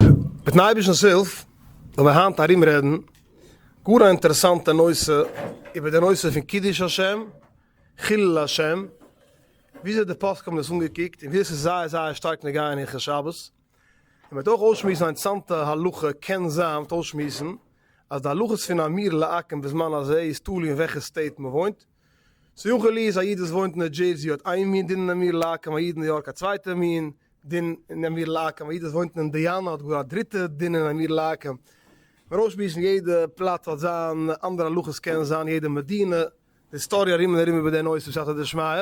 מיטן אייבערשטנ'ס הילף וועל מיר היינט ארום רעדן גאר א אינטערעסאנטע נושא איבער די נושא פון קידוש השם, חילול השם, וויאזוי די פוסקים האבן דאס אנגעקוקט און ווי עס איז זייער זייער שטארק נוגע אין הלכות שבת, און מען וועט אויך אויסשמועסן א אינטערעסאנטע הלכה, קען זיין מען וועט אויסשמועסן אז די הלכות פון האמיר לעקן בזמן הזה איז תלוי אין וועלכע סטעיט מען וואוינט, ס'יכול איז א איד וואס וואוינט אין נאו דזשערסי האט איין מין דין אין אמיר לאקם א איד אין ניו יארק א צווייטע מין דין אין אמיר לאקם א איד וואס וואוינט אין אינדיאנא האט גאר א דריטע דין אין אמיר לאקם מען אויסשמועסן יעדע פלאץ האט זיין אנדערע הלכות קען זיין יעדע מדינה די היסטאריע ארום און ארום איבער די נושא בסייעתא דשמיא.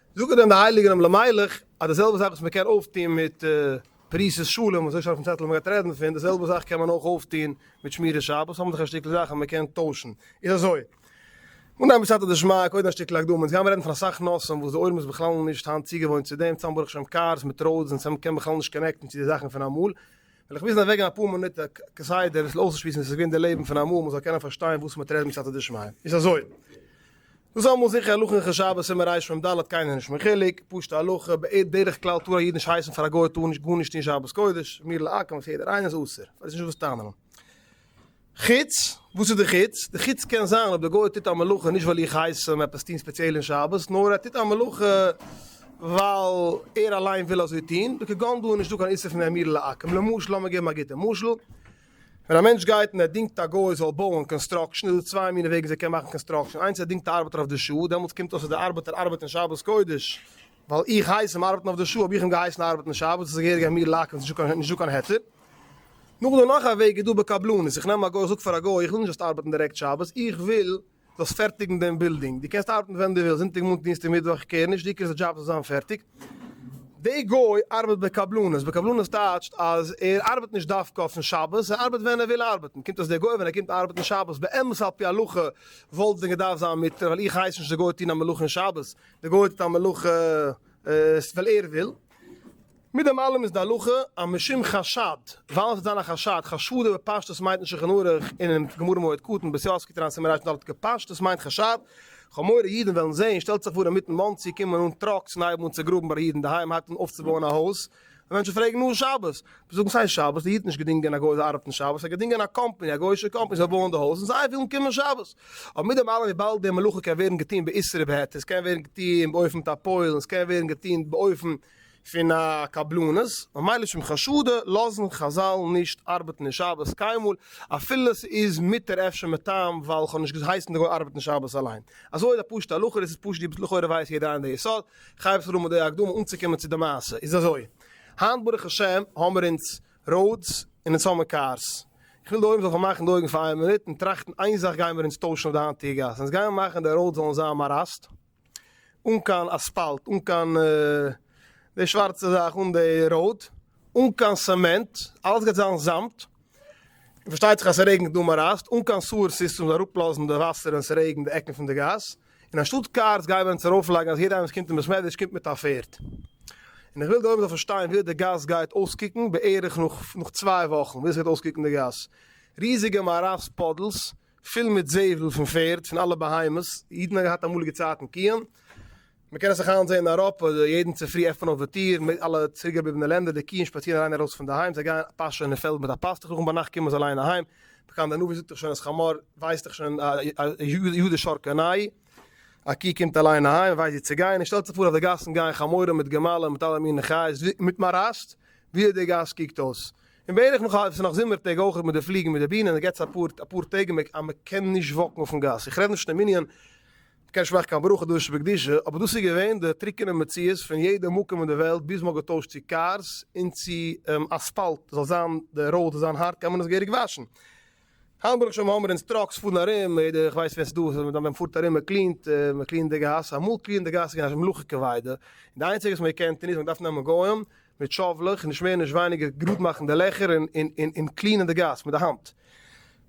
זאגן דען די הייליגן אם למלך אז די זעלבע זאך וואס מען קען אויפטון מיט פריסת שלום, אזוי שטייט אויפן צעטל מען גייט רעדן פון, די זעלבע זאך קען מען אויך אויפטון מיט שמירת שבת, האבן זיך א שטיקל זאכן מען קען טוישן, איז אזוי, אנהייבן בסייעתא דשמיא, קודם א שטיקל הקדמה, אונז גייען רעדן פון אסאך נושאים וואס די עולם איז בכלל נישט היינט צוגעוואוינט צו דעם, צאם ברוך שם קארס מיט ראודס און צאם קען בכלל נישט קאנעקטן צו די זאכן פון אמאל, וועל איך מוזן אוועקגיין אפאר מינוט כסדר עס אויסצושמועסן ווי עס איז געווען די לעבן פון אמאל מען זאל קענען פארשטיין וואס מען טרעט בסייעתא דשמיא. איז אזוי. דאס איז אמאל זיכער הלכה אין חשבת סימן רש מ ד קיינער נישט מיין חילוק, פשוטע הלכה, בדרך כלל טאר א איד נישט הייסן פאר א גוי טאר נישט גארנישט טון שבת קודש, מיר לעקן וואס יעדער איינער איז אסור, פאר דאס איז נישט וואס טענה'ן. חוץ? וואס איז די חוץ? די חוץ קען זיין אויב די גוי טוט א מלאכה נישט ווייל איך הייס אים עפעס טון ספעציעל אין שבת, נאר ער טוט א מלאכה ווייל ער אליין וויל אזוי טון, וכגון דא איז נישטא קיין איסור פון האמיר לעקם, למשל, לאמיר געבן א גוטע משל, ווען א מענטש גייט און ער דינגט א גוי זאל בויען, קאנסטראקשען, איז דא צוויי מיני וועגן וויאזוי ער קען מאכן קאנסטראקשען, איינס ער דינגט א ארבעטער אויף די שעה, דעמאלטס קומט אויס אז די ארבעטער ארבעט אין שבת קודש, ווייל איך הייס אים ארבעטן אויף די שעה האב איך אים געהייסן ארבעטן שבת עס איז געהעריג א מיר לאקן עס איז נישטא קיין היתר. נאכדעם נאך א וועג איז דא בקבלנות איך נעם א גוי איך זאג פאר א גוי איך וויל נישט זאלסט ארבעטן דירעקט שבת איך וויל זאלסט פערטיגן דעם בילדינג דו קענסט ארבעטן ווען דו ווילסט זונטאג מאנטאג דינסטאג מיטוואך איך קעיר נישט העיקר אז די דזשאב זאל זיין פערטיג די גוי ארבעט בקבלנות בקבלנות טייטשט אז ער ארבעט נישט דווקא אויפן שבת ער ארבעט ווען ער וויל ארבעטן קומט אויס די גוי ווען ער קומט ארבעטן שבת באמת על פי הלכה וואלט עס דען געדארפט זיין מותר ווייל איך הייס נישט די גוי טון א מלאכה אין שבת די גוי טוט א מלאכה עס וויל ער וויל, מיט דעם אלעם איז די הלכה אז משום חשד, ווייל עס וועט זיין א חשד, חשד איז בפשטות מיינט אין שולחן ערוך און אין גמרא מועד קטן בית יוסף קטן סימן רנ ד כפשטות מיינט חשד, חמורי אידן וועלן זעהן, שטעלט זיך פאר אינמיטן מאנסי קומען אן טראקס און הייבן אן צוגראבן ביי די אידן אינדערהיים הייבט אן אויפצובויען א הויז, מענטשן פרעגן נאר שבת, זיי זאגן סיי שבת, די איד האט נישט געדינגען א גוי זאל ארבעטן שבת, ער האט געדינגען א קאמפאני, א גוי'שע קאמפאני זאל בויען די הויז און זיי ווילן קומען שבת. אבער מיט דעם אלעם וויבאלד די מלאכה קען ווערן געטון באיסור ובהיתר, עס קען ווערן געטון באופן מיט א פועל און עס קען ווערן געטון באופן פון א קבלנות, ממילא שום חשדה, לאזן חזל נישט ארבעטן אין שבת קיינמאל, אפילו עס איז מותר אפשר מטעם ווייל כ'האב נישט געהייסן די גוי ארבעטן שבת אליין. אזוי איז א פשוטע הלכה, דאס איז פשט ווי לכאורה ווייסט יעדער איין די יסוד. כ'הייב אפשר אן מיט די הקדמה אנצוקומען צו די מעשה. איז אזוי, היינט ברוך השם האמער אונז ראודס און אונז האמער קארס. איך וויל די עולם זאל פארמאכן די אויגן פאר איין מינוט און טראכטן איין זאך גיימער אונז טוישן אויף די היינטיגע גאס. אונז גיימער מאכן די ראודס זאלן זיין מאראסט. אן קיין אספאלט, אן קיין די שווארצע זאך אן די ראוד, אן קיין סעמענט, אלעס גייט זיין זאמד. און פארשטייט זיך אז ס'רעגנט דא מאראסט, אן קיין סוער סיסטעם זאל אראפלאזן די וואסער ווען ס'רעגנט די עקן פון די גאס. און אנשטאט קארס גייען מיר אונז ארויפלייגן אז יעדער איינער וואס קומט אין בית מדרש קומט מיט א פערד. און איך וויל די עולם זאל פארשטיין ווי אט די גאס גייט אויסקוקן בערך נאך נאך צוויי וואכן, ווי אזוי גייט אויסקוקן די גאס. ריזיגע מערת פאדלס פול מיט זבל פון פערד, פון אלע בהמות, אידן האבן געהאט אמאליגע צייטן קיען, מען קען עס נאך היינט זען אין אייראפע, יעדן צופרי עפענט אויף די טיר, אין אלע צוריקגעבליבענע לענדער, די קיען שפאצירן אריין און ארויס פון די היים, זיי גייען פאשען אין פעלד מיט א פאסטוך, נאכן ביינאכט קומען זיי אליין אהיים, פקען דער נביא זאגט דאך שוין אז חמור ווייסט דאך שוין א יו ד שור קנאי א קי קומט אליין אהיים ווייסט ווי צו גיין און שטעלט זיך פאר אויף די גאסן גייען חמורים מיט גמלים מיט אלע מיני חיות מיט מאראסט ווי אט די גאס קוקט אויס און בערך נאך א עס איז נאך זומער טעג אויכעט מיט די פליגן מיט די בינען עס געט זיך אפאר אפאר טעג אז מען קען נישט וואקן אויפן גאס איך רעד נישט פון די מנין כ'קעניש מאכן קיין ברכה דאן שבקדושה, אבער דאס איז געווען די טרוקענע מציאות פון יעדע מקום אין די וועלט ביז מ'האט געטוישט צו קארס און צו אספאלט זאל זיין די ראוד זאל זיין הארט קען מען עס געהעריג וואשן. היינט ברוך השם האמער אונז טראקס פארן ארום, יעדער איך ווייס ווער ס'איז דא ווען מען פארט ארום מען קלינט מען קלינט די גאס, אמאל קלינען די גאס איז געווען א מלאכה כבידה, און די איינציגע וואס מען געקענט טון איז מען האט געדארפט נעמען גוים, מיט שאָוולעך, נישט מער נישט ווייניגער, גראָד מאַכן די לעכער און קלינען די גאַס מיט די האַנט.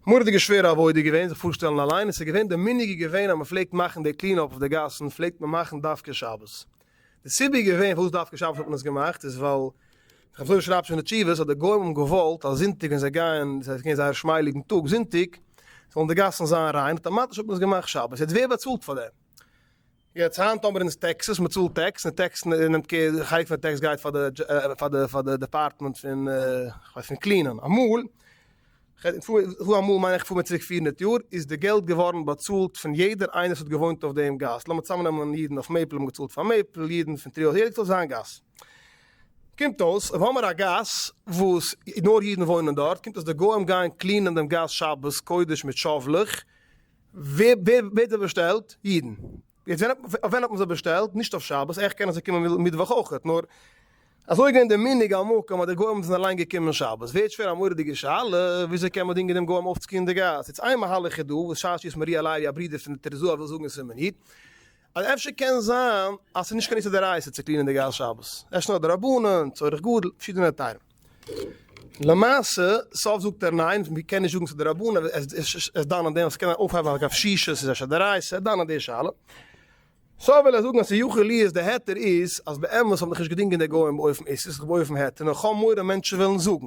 מורא'דיגע שווערע עבודה איז געווען זיך פאָרשטעלן אַליין, און ס'איז געווען, די מנהג איז געווען אַז מ'פלעגט מאַכן די קלינאָפּ אויף די גאַסן פלעגט מען מאַכן דווקא שבת. די סיבה איז געווען פאַרוואָס דווקא שבת האָט מען עס געמאַכט איז ווייל, דער חזון איש שרייבט שוין אין תשובות אַז די גוים האָבן געוואָלט אַז זונטיק ווען זיי גייען, ס'הייסט ס'איז געווען זייער שמייליגן טאָג זונטיק, זאָלן די גאַסן זיין ריין, אויטאַמאַטיש האָט מען עס געמאַכט שבת. יעצט ווער באַצאָלט פאַר דעם? יעצט היינט אבער איז טעקסעס, מען צאלט טעקס, און טעקס נעמט קעיר, די חלק פון די טעקס גייט פאר די פאר די פאר די דעפארטמענט פון כ'ווייס פון קלינען, אמאל, כ'פאר אמאל מיין איך כ'פאר מיר צוריק פֿיר הונדערט יאר, איז די געלט געווארן באצאלט פון יעדער איינער וואס האט געוואוינט אויף דעם גאס, לאמיר צוזאמנעמען אידן אויף מעיפל האבן געצאלט פאר מעיפל, אידן פון טריאו יעדער האט געצאלט זיין גאס. קומט אויס אויב האמער א גאס וואס נאר אידן וואוינען דארט, קומט אויס די גוים גייען קלינען דעם גאס שבת קודש מיט שאוולעך, ווער האט זיי באשטעלט? אידן. יעצט ווען האט אויף ווען האט מען זיי באשטעלט? נישט אויף שבת, עכ פ קענען זיי קומען מיטוואך אויכעט, נאר אזוי איז געווען די מנהג המקום אז די גוים זענען אליין געקומען שבת. ווערט שווער א מורא'דיגע שאלה, וויאזוי קען מען דינגען דעם גוים אויפצוקומען אין די גאס? יעצט איין מהלך איז דא, וואס שש י ס מרי' אלי' א ברודער פון די תרז א וויל זאגן אין סימן יט, אז אפשר קען זיין אז ס'איז נישט קיין איסור דאורייתא צו קלינען די גאס שבת, אפשר נאר דרבנן, צורך גדול, פארשידענע טעמים. למעשה סוף זאגט ער ניין, מען קען נישט זאגן ס'איז דרבנן, ער איז דן אין דעם אז ס'קען זיין אויפהייבן א קשיש איז אפשר דאורייתא, ער דן אין די שאלה. סא וויל ער זאגן אז ס'יכול להיות די היתר איז אז באמת האבן דיך נישט געדינגען די גוים אויפן איסור, ס'איז געווען אויפן היתר, נאר כ'האב מורא מענטשן וועלן זאגן.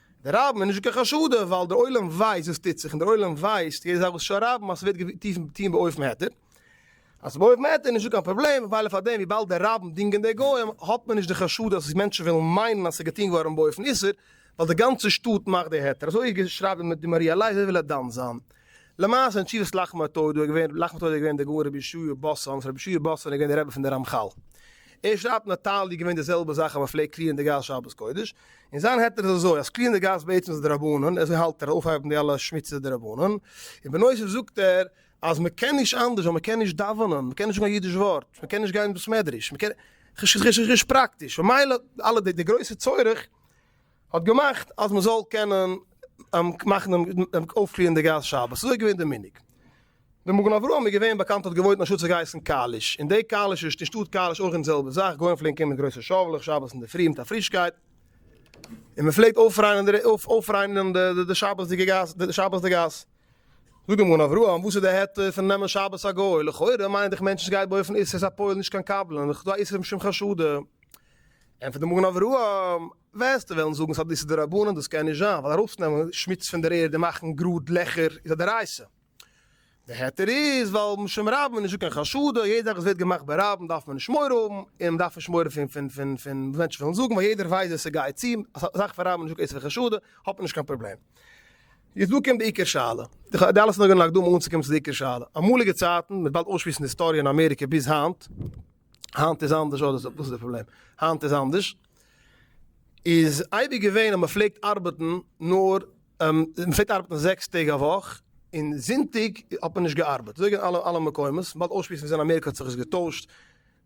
דער רבין איז נישט קיין חשודה ווייל דער עולם ווייסט וואס טוט זיך און דער עולם ווייסט יעדע זאך וואס שרייבן אז ס'ווערט געטוהן באופן היתר אז באופן היתר איז נישטא קיין פראבלעם ממילא פארדעם וויבאלד דער רבין דינגט אין די גוים האט מען נישט די חשד אז מענטשן וועלן מיינען אז ס'איז געטוהן געווארן באופן איסור ווייל די גאנצע שטאט מאכט די היתר אזוי איז שרייבט די די מהרי א לייזער וויל ער דן זיין למעשה אין תשובת לחמא טוידו איז געווען לחמא טוידו איז געווען די גאון רבי ישעי' באסאן וואס רבי ישעי' באסאן איז געווען די רבי פון די רמחל ער שרייבט נאטאלי געווען די זעלבע זאך אז מ'פלעגט קלירן די גאס שבת קודש. און זיין היתר איז אזוי אז קליען די גאס בעצם איז דרבנן, אזוי האלט ער, אויפהייבן די אלע שמוציגע דרבנן, און בנוסף זאגט ער אז מען קען נישט אנדערש ווייל מען קען נישט דאווענען, מען קען נישט זאגן א אידיש ווארט, מען קען נישט גיין אין בית מדרש, מען קען נישט פראקטיש, ממילא אלע די גרויסע צורך האט געמאכט אז מען זאל קענען מאכן דעם אויפקליען די גאס שבת, אזוי איז געווען די מנהג. ווען מגן אברהם איז געווען באקאנט האט געוואוינט אין א שטאט ס'האט געהייסן קאליש, און די קאליש איז די שטאט קאליש אויך אין די זעלבע זאך, גוים פלעגן קומען מיט גרויסע שאוולעך שבת אינדערפרי מיט א פרישקייט, און מען פלעגט אויפריינען די שבת'דיגע גאס, זאגט דער מגן אברהם וואס איז די העטה פון נעמען שבת א גוי, לכאורה מיינט דיך מענטשן ס'גייט בה אויפן איסור הפועל נישט קיין קבלן, וכ ד איסור משום חשדה. ענטפערט דער מגן אברהם, וועסטו וועלן זאגן ס'איז א דאיסור דרבנן, דאס קען נישט זיין, ווייל ארויסצונעמען שמוץ פון דער ערד און מאכן גראד לעכער איז א דאורייסא, די היתר איז ווייל משום רבים איז נישטא קיין חשדה, יעדע זאך וואס ווערט געמאכט ברבים דארף מען נישט מורא האבן, און מ'דארף נישט מורא פון פון פון פון וואס מענטשן וועלן זאגן, ווייל יעדער ווייסט ווער ס'גייט צו, א זאך פון רבים איז נישטא איסור חשדה, האט מען נישט קיין פראבלעם. יעצט דא קומט די עיקר שאלה, די אלע איז נאר געווען א הקדמה אנצוקומען צו די עיקר שאלה, אמאליגע צייטן, מ'וועט באלד אויסשמועסן די היסטאריע אין אמעריקע ביז היינט, היינט איז אנדערש, אוי דאס איז די פראבלעם, היינט איז אנדערש, איז אייביג געווען אז מ'פלעגט ארבעטן נאר. מען פלעגט ארבעטן זעקס טעג א וואך, און זונטאג האט מען נישט געארבעט, אזוי גייען אלע אלע מקומות, באלד אויסשמועסן וואס אין אמעריקע האט זיך עס געטוישט,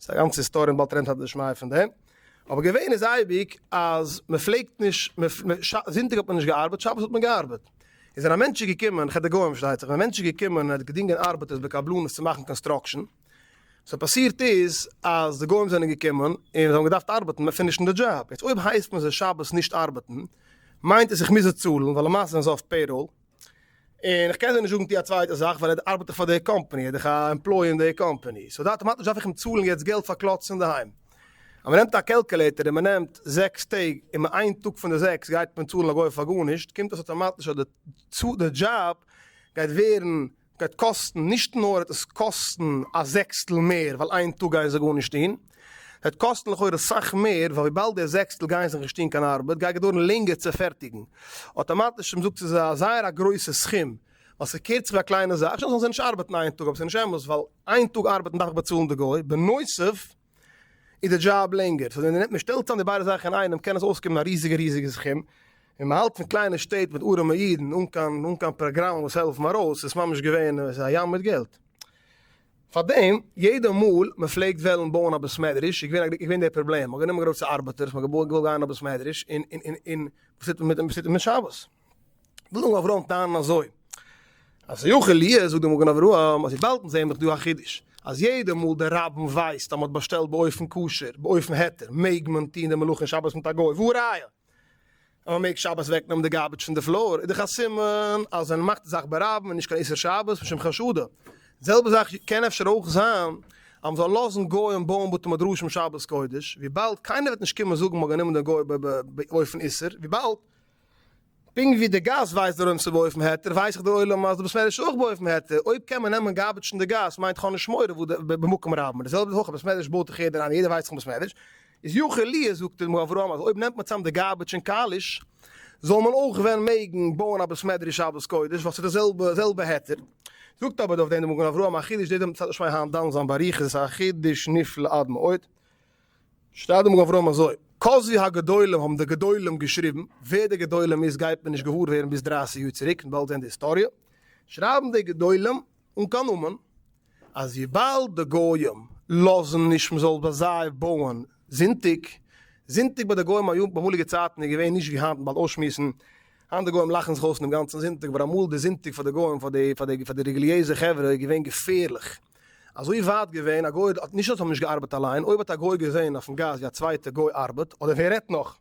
ס'איז א גאנצע היסטאריע און באלד רעדן סייעתא דשמיא פון דעם, אבער געווען איז אייביג אז מען פלעגט נישט, זונטאג האט מען נישט געארבעט, שבת האט מען געארבעט, איז ווען א מענטש איז געקומען, כ ד גוים פארשטייט זיך, ווען א מענטש איז געקומען און ער האט געדינגען ארבעטערס בקבלנות צו מאכן קאנסטראקשען, וואס האט פאסירט איז אז די גוים זענען געקומען און זיי האבן געדארפט ארבעטן מען פינישן די דזשאב, יעצט אויב הייסט מען זיי שבת נישט ארבעטן מיינט עס איך מוז זיי צאלן ווייל למעשה זענען זיי אויף פעיראל, און איך קען זיי נישט זאגן טו א צווייטע זאך ווייל ער ארבעט דאך פאר די קאמפאני ער איז דאך א עמפלאי אין די קאמפאני, סאו אטאמאטיש דארף איך אים צאלן יעצט געלט פאר קלאטס אינדערהיים. אז מען נעמט א קעלקעלעיטער און מען נעמט זעקס טעג און מען איין טאג פון די זעקס גייט מען צאלן א גוי פאר גארנישט קומט עס אטאמאטיש אז די דזשאב גייט ווערן גייט קאסטן, נישט נאר וועט עס קאסטן א זעקסטל מער ווייל איין טאג גייען זיי גארנישט טון, ס'וועט קאסטן לכאורה סאך מער ווייל וויבאלד די זעקסטל גייען זיך נישט טון קיין ארבעט גייט געדויערן לענגער צו פערטיגן. אטאמאטיש האט מען געזאגט ס'איז א זייער א גרויסע סכום ווייל ס'קערט זיך ווי א קליינע זאך, שוין זאלן זיי נישט ארבעטן איין טאג אבער ס'נישט אמת ווייל איין טאג ארבעטן דארף איך באצאלן די גוי בנוסף, איז די דזשאב לענגער, סאו ווען מען שטעלט צאם די ביידע זאכן אינאיינעם קען עס אויסקומען א ריזיגע ריזיגע סכום, און מען האלט פון קליינע שטעט מיט ארעמע אידן אן קיין אן קיין פראגראמען וואס העלפן ארויס, איז ממש געווען א ים מיט געלט. פארדעם יעדע מאל מען פלעגט וועלן בויען א בית מדרש איז געווען געווען דער פראבלעם, מען האט גענומען גרויסע ארבעטערס, מען האט געוואלט גיין אן א בית מדרש, און און און און וואס טוט מען מיט דעם וואס טוט מען מיט שבת? וויל מגן אברהם טענה'ן אזוי, אז יוכ אלי' זאגט די מגן אברהם אז וויבאלד אונז זעען דאך דא א חידוש, אז יעדע מאל דער רבין ווייסט אז מ'האט באשטעלט באופן כשר, באופן היתר, מעג מען טון די מלאכה שבת מיט א גוי, והא ראיה אז מ'מעג שבת אוועקנעמען די גארביטש פון די פלאר, איז דאך א סימן אז ווען מ'מאכט די זאך ברבים איז נישט קיין איסור שבת משום חשדא, די זעלבע זאך קען אפשר אויך זיין אז מ'זאל לאזן גוים בויען בתי מדרשים שבת קודש, וויבאלד קיינער וועט נישט קומען זאגן מ'האט גענומען דעם גוי באופן איסור, וויבאלד. פונקט ווי די גאס ווייסט דער עולם צו באופן היתר ווייס איך דער עולם אז דער בית מדרש אויך באופן היתר אויב קען מען נעמען גארבעטשן די גאס מיינט כ'האב נישט מורא וואו די במקום רב מיט די זעלבע הויכע בית מדרש בויט איך יעדער איינער יעדער ווייסט פון בית מדרש איז יכול להיות זאגט אים ר' אברהם אז אויב נעמט מען צאם די גארבעטש און קאליש זאל מען אויך ווען מעגן בויען א בית מדרש שבת קודש ווייל ס'איז די זעלבע היתר זאגט אבער אויף דעם די מגן אברהם א חידוש דער דעם צד נישט מיין היינט דן זיין באריכות א חידוש נפלא עד מאוד. שטייט דעם גברא אזוי, כזבי הגדולים האבן די גדולים געשריבן, ווער די גדולים איז גייט מען נישט געוואר ווערן ביז דרייסיג יאר צוריק און באלד זען די היסטאריע, שרייבן די גדולים אן קיין נאמען, אז וויבאלד די גוים לאזן נישט מען זאל ביי זיי בויען זונטאג, זונטאג ביי די גוים היום באמאליגע צייטן איז געווען נישט ווי היינט מען באלד אויסשמועסן, היינט די גוים לאכן זיך אויס אינעם גאנצן זונטאג אבער אמאל די זונטאג פאר די גוים פאר די פאר די רעגליעזע חברה איז געווען געפערליך, אזוי ווייט געווען, א גוי האט נישט אז עס האט נישט געארבעט אליין, אויב האט א גוי געזען אויפן גאס ווי א צווייטע גוי ארבעט, אדער ווער רעדט נאך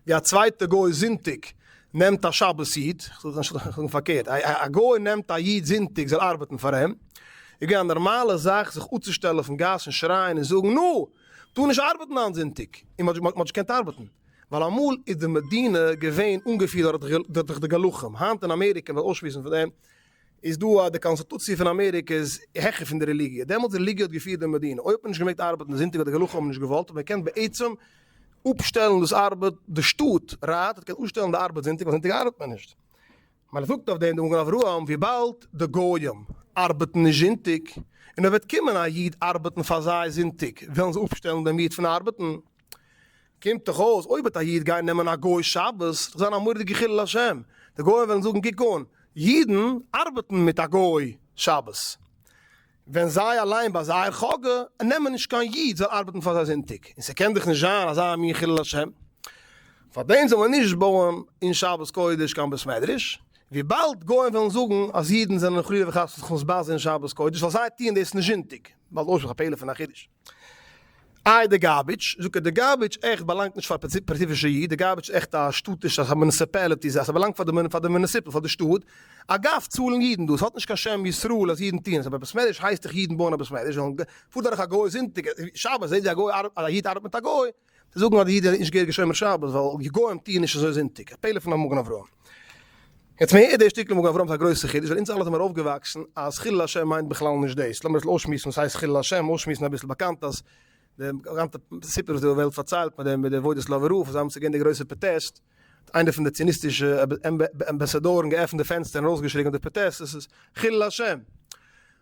ווי א צווייטע גוי זונטאג נעמט א שבת איד, זאגן פארקערט, א גוי נעמט א איד זונטאג זאל ארבעטן פאר אים, איז געווען א נארמאלע זאך זיך אפצושטעלן אויפן גאס און שרייען און זאגן נו! טאר נישט ארבעטן היינט זונטאג! און מען האט נישט געקענט ארבעטן, ווייל אמאל איז די מדינה געווען אנגעפירט דורך די גלחים, היינט אין אמעריקע וועט אויסשמועסן פון דעם איז דא אז די קאנסטוטוציע פון אמעריקע איז העכער פון די רעליגיע. דעמאלטס רעליגיע האט געפירט די מדינה. אויב האט מען נישט געמעגט ארבעטן די זונטאג אדער די הלכה האבן נישט געוואלט האט מען געקענט בעצם אפשטעלן דאס ארבעט די שטאט ראט האט געקענט אפשטעלן די ארבעט זונטאג ווייל זונטאג ארבעט מען נישט. מען זאגט אויף דעם די מגן אברהם וויבאלד די גוים ארבעטן נישט זונטאג און אויב וועט קומען א איד ארבעטן פאר זיי זונטאג וועלן זיי אפשטעלן דעם איד פון ארבעטן. קומט דאך אויס אויב וועט א איד גיין נעמען א גוי שבת וועט דאך זיין א מורא'דיגע חילול השם, די גוים וועלן זאגן קוק אן, אידן ארבעטן מיט א גוי שבת, ווען זיי אליין ביי זייער חאגע נעמען נישט קיין איד זאל ארבעטן פאר זיי זונטאג, און ס'קען דאך נישט זיין אזא מין חילול השם, פארדעם זאל מען נישט בויען אין שבת קודש קיין בית מדרש, וויבאלד גוים וועלן זאגן אז אידן זענען חלילה וחס נישט מסבז אין שבת קודש ווייל זיי טוען דאס נישט זונטאג, באלד אויס מיט א פעלער פון א חידוש. איי די גארביטש, זאגט ער, די גארביטש עכט באלאנגט נישט פאר פעציפישע איד, די גארביטש איז עכט א שטאטיש זאך, א מוניסיפעליטי זאך, ס'באלאנגט פאר די פאר די מוניסיפעל, פאר די שטאט, אגב צאלן אידן דאס, האט נישט קיין שם ישראל אז אידן טוען עס, אבער בעסמעדריש הייסט דאך אידן בויען א בעסמעדריש, זאלן פארט דורך א גוי זונטאג, שבת זעהט ווי א גוי ארבעט, א איד ארבעט מיט א גוי, צו זאגן אז די איד איז נישט געהעריגע שומר שבת ווייל די גוים טוען נישט אזוי זונטאג, א פלא פון א מגן אברהם. יעצט מהר א דער שטיקל מגן אברהם איז א גרויסע חידוש ווייל אונז אלע זעמיר אויפגעוואקסן אז חילול השם מיינט בכלל נישט דאס, לאמיר אביסל אויסשמועסן וואס הייסט חילול השם, אויסשמועסן אביסל באקאנט אז די גאנצע סיפור וואס די וועלט פארציילט מיט די וועד אויס לאווער רב זיי האבן צו געבן די גרויסע פראטעסט, איינער פון די ציוניסטישע אמבעסאדארן געעפנט די פענסטער און ארויסגעשריגן אויף די פראטעסט עס איז חילול השם!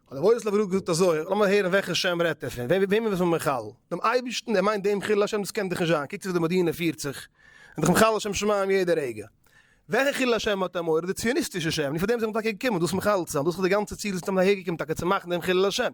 האט דער וואויס לאווער געזאגט אזוי, לאמיר הערן וועלכע שם רעדט ער פון? וועמען איז מען מחלל? דעם אייבערשטן? ער מיינט דעם חילול השם? דאס קען דאך נישט זיין, קוקט זיך די מדינה פירט זיך, איז דאך מחלל שם שמים יעדע רגע. וועלכע חילול השם האט ער מורא? די ציוניסטישע שם! נישט פאר דעם זענען מיר טאקע געקומען, דאס מחלל צו זיין, דאס איז די גאנצע ציל, זענען מיר היער געקומען טאקע צו מאכן דעם חילול השם.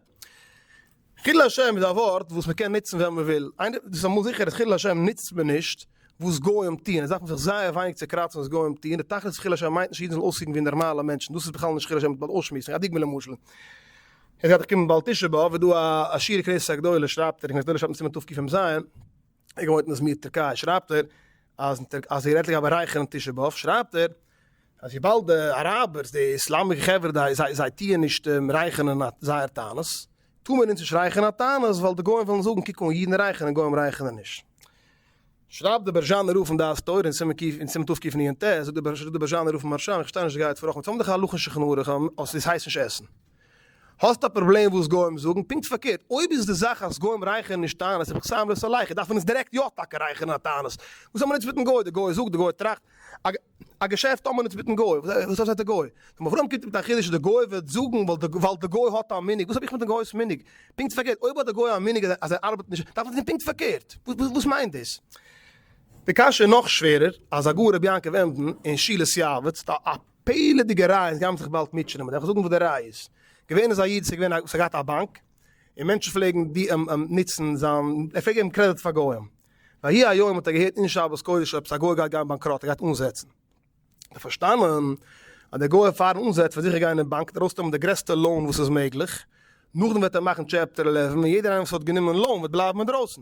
חילול השם איז א ווארט וואס מען קען נוצן ווען מען וויל, איינער דאס איז אמאל זיכער אז חילול השם נוצט מען נישט וואס גוים טוען, עס דארף מען זיך זייער ווייניג צעקראצן וואס גוים טוען, די תכלית פון חילול השם מיינט נישט אידן זאלן אויסקוקן ווי נארמאלע מענטשן, דאס איז בכלל נישט חילול השם, מען דארף אויסשמועסן, א דוגמא למשל, יעצט גייט דאך קומען באלד תשעה באב, איז דא א שיעור קריסה גדולה שרייבט ער, קריסה גדולה שרייבט מען סימן תקמ ז, איך געוואוינט אין איזמיר טערקיי שרייבט ער אז אז ער רעדט לגבי רייכערן און תשעה באב שרייבט ער אז וויבאלד די אראבערס די איסלאמישע חברה די זיי זיי טוען נישט רייכענען א זייער תענית טאר מען אונז נישט רייכענען א תענית ווייל די גוים וועלן זאגן קוק אן אידן רייכענען גוים רייכענען נישט שרייבט דער בערזשאנער רב אין דעת תורה אין סימן קיף אין סימן תוו קיף ניען ט זאגט דער בערזשאנער רב מהרשם איך פארשטיי נישט די גייט פאר רחמים זיי האבן דאך א הלכה שולחן ערוך אז עס הייסט נישט עסן האסט א פראבלעם וואס גוים זאגן? פונקט פארקערט, אויב איז די זאך אז גוים רייכערן נישט טענות רבי חיים זצל לייכער, דארף מען אונז דירעקט יא טאקע רייכערן א טענות. וואס האמער אונז מיטן גוי? די גוי זאגט, די גוי טראכט. א געשעפט האמער אונז מיטן גוי? וואס האט די גוי? רבי אברהם קומט מיט א חידוש אז די גוי וועט זאגן ווייל די גוי האט א מנהג. וואס האב איך מיטן גוי'ס מנהג? פונקט פארקערט, אויב האט די גוי א מנהג אז ער ארבעט נישט, דארף מען טון פונקט פארקערט. וואס מיינט דאס? די קשיא איז נאך שווערער, אז הגאון רבי יעקב עמדן אין שילת יעבץ, פעלעדיגע ראיות גייען זיך באלד מיטשענען, מ'דארף זאגן וואס די ראיה איז. געווען איז א איד, ס'איז געווען א, ס'האט געהאט א באנק, און מענטשן פלעגן נוצן זיין, ער פלעגט געבן קרעדיט פאר גוים. ויהי היום האט ער געהערט אין שבת קודש עפעס א גוי גייט גיין באנקראט, ער גייט אנזעצן. האט ער פארשטאנען אז דער גוי פארן אנזעץ וועט זיכער גיין אין באנק און ארויסנעמען די גרעסטע לאון וואס איז מעגליך, נאכדעם וועט ער מאכן טשעפטער עלעווען און יעדער איינער וואס האט גענומען לאון וועט בלייבן אינדרויסן.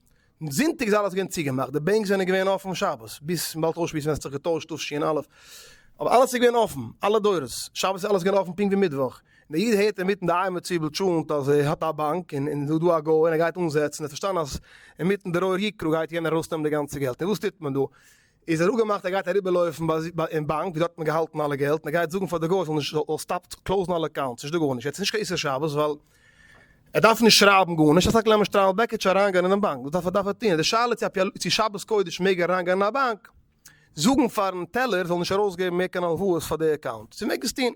און זונטאג איז אלעס געווען צוגעמאכט, די בענק זענען געווען אפן שבת, ביז מ'באלד אויסשמועסן ווען ס'האט זיך געטוישט תשי ע, אבער אלעס איז געווען אפן, אלע דורות, שבת איז אלעס געווען אפן פונקט ווי מיטוואך, און דער איד הערט אינמיטן די אייער מציבל טשולנט אז ער האט א באנק און און ס'דא א גוי און ער גייט אנזעצן, ער האט פארשטאנען אז אינמיטן די רור יקרה גייט יענער ארויסנעמען די גאנצע געלט, און וואס טוט מען דא? איז ער אפגעמאכט ער גייט אריבערלויפן ביי ביי אין באנק ווי דארט האט מען געהאלטן אלע געלט און ער גייט זאגן פאר די גוי ער זאל נישט זאל סטאפט קלאוזן אלע אקאונטס נישט דא גארנישט, יעצט איז נישט קיין איסור שבת ווייל ער דארף נישט שרייבן גארנישט, ער זאגט לאמיר שטריימל בעקיטשע אריינגיין אינעם באנק, דאס דארף ער דארף ער טון, די שאלה צו אפי' צו שבת קודש מעג ער אריינגיין אין א באנק, זאגן פארן טעלער זאל נישט ארויסגעבן מער קיין הלוואות פאר די אקאונט, צו מעג עס טון.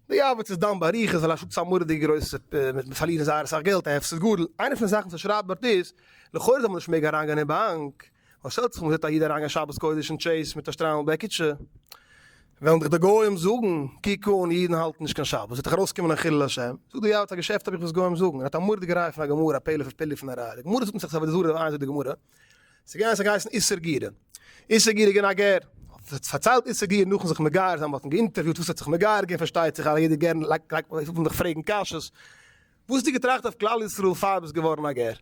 די ארבעט איז דן באריכות ווייל א שטאט איז א מורא'דיגע גרויסע מיט פארלירן זייער אסאך געלט א הפסד גדול, איינע פון די זאכן וואס ער שרייבט דארט איז לכאורה זאל מען נישט מעגן אריינגיין אין באנק, וואס האלט זיך מ'זעט א איד אריינגיין שבת קודש אין טשעיס מיט א שטריימל בעקיטשע, וועלן דיך די גוים זאגן, קוק אן, אידן האלטן נישט קיין שבת, ס'וועט דיך ארויסקומען א חילול השם, זאג דיר יא וואס א געשעפט האב איך וואס גוים זאגן, ער האט א מורא'דיגע ראיה פון א גמרא, א פלא פון פלאי פון א ראיה, די גמרא זאגט מסכת עבודה זרה, איין זאגט די גמרא, ס'געווען אז ס'האט געהייסן איסר גירה, איסר גירה איז געווען א גר, האט פארציילט איסר גירה נאכן זיך מגייר זיין, מ'האט אים געאינטערוויוט וואס ער האט זיך מגייר געווען, פארשטייט זיך אז יעדער גר לייגט, וועט פון דיך פרעגן קשיות, וואס האסטו געטראכט אויף כלל ישראל פאר ביסט געווארן א גר?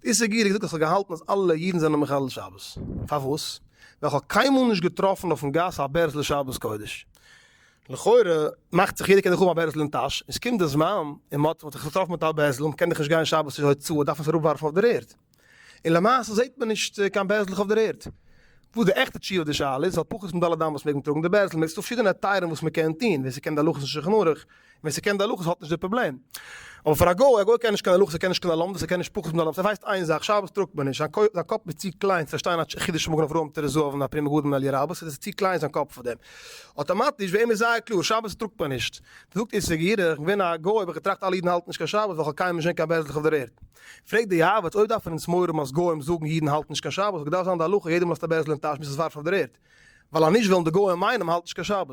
דיסעגרי, איך האב געזאגט אז כ'האב געהאלטן אז אלע אידן זענען מחלל שבת. פארוואס? ווייל כ'האב קיינמאל נישט געטראפן אויפן גאס א בערזל שבת קודש. לכאורה מאכט זיך יעדער קען דאך האבן א בערזל אין טאש, און ס'קומט די זמן און מ'האט זיך געטראפן מיט א בערזל און מ'קען דאך נישט גיין שבת צו הוצאה דארף מען עס אראפווארפן אויף דער ערד. און למעשה זעהט מען נישט קיין בעזלעך אויף דער ערד. וואס די עכטע תשובה אויף די שאלה איז, על פחות פון ד' אמות מעג מען טראגן די בעזל, מען איז דא פארשידענע היתרים וואס מען קען טון, ווער ס'קען די הלכות אין שולחן ערוך, און ווער ס'קען די הלכות האט נישט די פראבלעם. אבער פאר א גוי, א גוי קען נישט קיין הלכות, ער קען נישט קיין די לומדות, ער קען נישט פחות פון ד' אמות, ער ווייסט איין זאך, שבת טראגט מען נישט, זיין קויפ, זיין קאפ איז צו קליין צו פארשטיין א חידוש מגן אברהם תרס ז אבן הפרי מגדים מעל י רבא, ס'איז צו קליין זיין קאפ פאר דעם. אטאמאטיש, ביי אים איז זייער קלאר, שבת טראגט מען נישט. דער זאגט איסר גירח, איך בין געווען א גוי, האב איך געטראכט אלע אידן האלטן נישט קיין שבת, ווייל כ'האב קיינמאל נישט געזעהן קיין בעזלעך אויף דער ערד. פרעגט די יעבץ אויב דארפן אונז מורם אז גוים זאגן אידן האלטן נישט קיין שבת, געדארפט זיין די הלכה יעדער לאזט א בערזל אין טאש ביז עס ווארפט אויף דער ערד, ווייל אז נישט וועלן די גוים מיינען מ'האלט נישט קיין שבת.